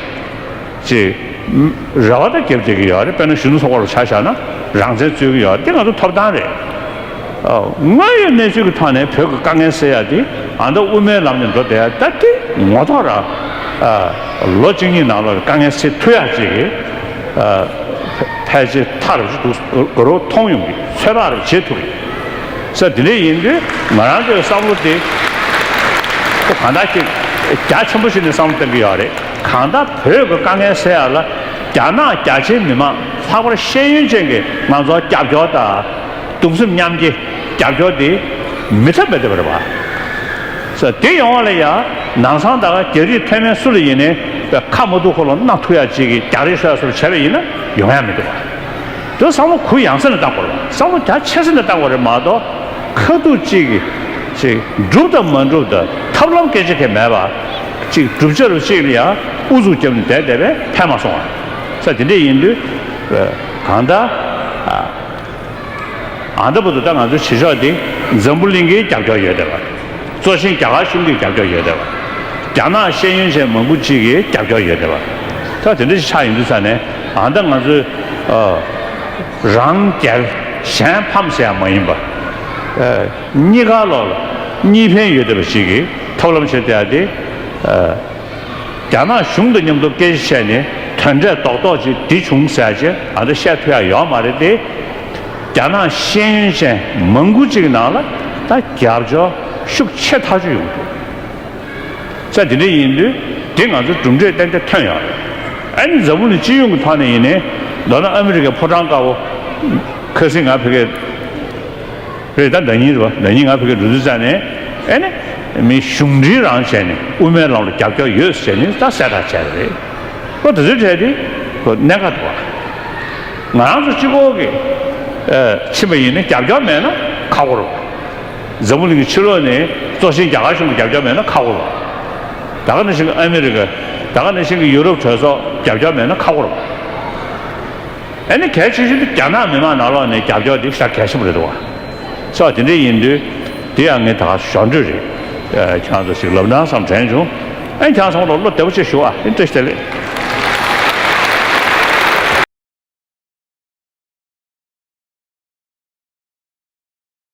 ཅེས། རེ་བ་དང་སྐྱབས་བཅད་ཀྱི་ཡོད་རེད་དཔེར་ན་གཞོན་ནུ་ཚོགས་པ་ལ་ཆ་བཞག་ན་རང་བཙན་རྩོད་ཀྱི་ཡོད་འདི་ང་ཚོ་ཐོབ་ཐང་རེད། དངོས་ཡོད་གནས་ཚུལ་གྱི་ཐོག་ནས་བོད་ཀྱི་དཀའ་ངལ་སེལ་ཡ་དེ་ཨ་མདོ་དབུ་མའི་ལམ་ནས་འགྲོ་བསྡད་ཡ་ད་དེ་ངོ་ཐོག་ར། ལོ་གཅིག་གཉིས་ནང་ལ་དཀའ་ངལ་སེལ་ཐུབ་ཡ་ཅེས་ཀྱི། ཕལ་ཆེར་མཐར་རུ་མཐོང་ཡོང་གི་ཚོད་དཔག་རེ་བྱེད་ཐུབ། ས་དེ་འདྲ་ཡིན་དུས་ང་རང་ཚོའི་བསམ་བློ་དེ་ཚོ་གང་དག་ཅིག་རྒྱ་ཆེན་པོ་ཞིག་ནས་བསམ་བློ་གཏོང་གི་ཡོད་རེད། གང་ལྟར་བོད་ཀྱི་དཀའ་ངལ་སེལ་ཡག་ལ་རྒྱ་ནག་རྒྱ་ཆེའི་མི་མང་ལྷག་པར་ཤེས་ཡོན་ཅན་གྱི་ང་ཚོར་རྒྱབ་སྐྱོར་དང་གདུང་སེམས་མཉམ་སྐྱེ་རྒྱབ་སྐྱོར་དེ་མི་ཐབས་མེད་ཐབས་རེད་བ། ས་དེ་ཡོང་བ་ལ་ཡང་ནང་སང་ད་ག་རྒྱ་རིགས་མཐོན་མན་སུ་ལ་ཡིན་ནས་པའི་ཁ་མ་ཐུག་ཁོ་ལ་སྣ་ཐུག་ཡག་ཅིག་རྒྱག་རེས་ཤོག་ཟེར་བ་བྱས་པ་ཡིན་ན་ཡོང་ཡག་མི་འདུག་བ། དེ་བསམ་བློ་གུ་ཡངས་ས་ནས་བཏང་དགོས་ལ་བསམ་བློ་རྒྱ་ཆེ་ས་ནས་བཏང་དགོས་རེད་མ་གཏོགས་ཁ་ཐུག་གཅིག་གིས་གཅིག་འགྲུབ་དང་མ་འགྲུབ་ད་ཐབས་ལམ་སྐད་ཆ་ཁས་མེད་པར་གཅིག་བསྒྲུབ་བྱ་རུ་གཅིག་ལ་ཡང་ཨུ་ཚུགས་བརྒྱབ་ནས་བསྡད་བསྡད་པས་ཕན་མ་སོང་བ་ས་དེ་འདྲས་ཡིན་དུས་གང་ལྟར་ཨ་མདའ་བུ་དང་ད་ང་ཚོའི་བྱེད་ཕྱོགས་དེ་འཛམ་བུ་གླིང་གི་རྒྱབ་སྐྱོར་ཡོད་བསྡད་པ་གཙོ་ཆེན་རྒྱ་གར་གཞུང་གི་རྒྱབ་སྐྱོར་ཡོད་བསྡད་པ་རྒྱ་ནག་ཤེས་ཡོན་ཅན་མང་པོ་གཅིག་གི་རྒྱབ་སྐྱོར་ཡོད་བསྡད་པ་ད་དེ་འདྲས་ཆགས་ཡིན་དུས་ས་ནས། ད་ལྟ་ང་ཚོས། རང་གྱར་གཞན་ཕམ་ཟེར་ཡག་མ་ཡིན་པ། གཉིས་ཀ་ལོག་ལ། གཉིས་ཕན་ཡོད་བསྡད་པ་ཞིག་གིས་ཐབས་ལམ་བྱེད་བསྡད་དེ། རྒྱ་ནག་གཞུང་དང་མཉམ་དུ་སྐད་ཆ་བཤད་ནས་དོན་འབྲས་རྡོག་རྡོག་ཅིག་འདི་བྱུང་ཟེར་ཆེད་ང་ཚོས་བཤད་ཐུབ་ཡག་ཡོད་མ་རེད་དེ། རྒྱ་ནག་ཤེས་ཡོན་ཅན་མང་པོ་ཅིག་ནང་ལ་ད་རྒྱབ་སྐྱོར་ཤུགས་ཆེ་ཐག་ཆོད་ཡོང་ཐུབ། ས་དེ་འདྲ་ཡིན་དུས་དེ་ང་ཚོར་གྲུབ་འབྲས་གཏན་འཁེལ་ཐོན་ཡོང་རེད། ཨ་ནི་འཛམ་བུ་ནི་སྤྱི་ཡོངས་ཀྱི་ཐོག་ནས་ཡིན་ནའི། མདོར་ན་ཨ་མི་རི་ཀའི་ཕོ་བྲང་དཀར་བོ། ཁ་སིང་ང་ཕི་ཀའི། རེད་ད་ཟླ་གཉིས་རེད་བ་ཟླ་གཉིས་ང་ཕི་ཀའི་འགྲོ་དུས་བཙལ་ནས། ཨ་ནི། མི་གཞུང་འབྲེལ་རང་བྱས་ནས་དབུ་མའི་ལམ་ལ་རྒྱབ་སྐྱོར་ཡོད་ཟེར་ནས་ད་གསལ་བསྒྲགས་བྱས་པ་རེད། ལོ་དེ་ཚོའི་གྲས་དེ། གནད་འགག་ཏུ་བ། ང་རང་ཚོ་སྤྱི་ཁོག་གི། ཕྱིན་པ་ཡིན་ནའི་རྒྱབ་སྐྱོར་མེད་ན་ཁག་པོ་རེད། འཛམ་བུ་གླིང་གི་ཕྱི་ལོགས་ནས་གཙོ་ཆེན་རྒྱ་གར་གཞུང་གིས་རྒྱབ་སྐྱོར་མེད་ན་ཁག་པོ་རུང། ད་ག་ནས་ཤིང་གི་ཨ་མི་རི་ཀ། ད་ག་ནས་ཤིང་གི་ཡུ་རོབ་གྲོས་ཚོགས་རྒྱབ་སྐྱོར་མེད་ན་ཁག་པོ་རུང། ཨ་ནི་གལ་ཆེ་ཤོས་འདི་རྒྱ་ནག་མི་མང་ནང་ལོགས་ནས་རྒྱབ་སྐྱོར་འདི་ཤ་གལ་ཆེན་པོ་རེད་འདུག་བ། སོགས་དེ་འདྲའི་ཡིན་དུས། དེ་ཡང་ངས་ད་ག་ཞོར་འདྲི་རེད། ཁྱང་ཚོ་ཞིག་ལབ་ནང་བསམ་དྲན་བྱུང། ཨ་ནི་ཁྱང་ཚོ་ངོ་ལོག་བློ་བདེ་པོ་བྱེད་ཞུ་ཨ་ཨི་ཏྲེ་ཤི་ཏེ་ལེ།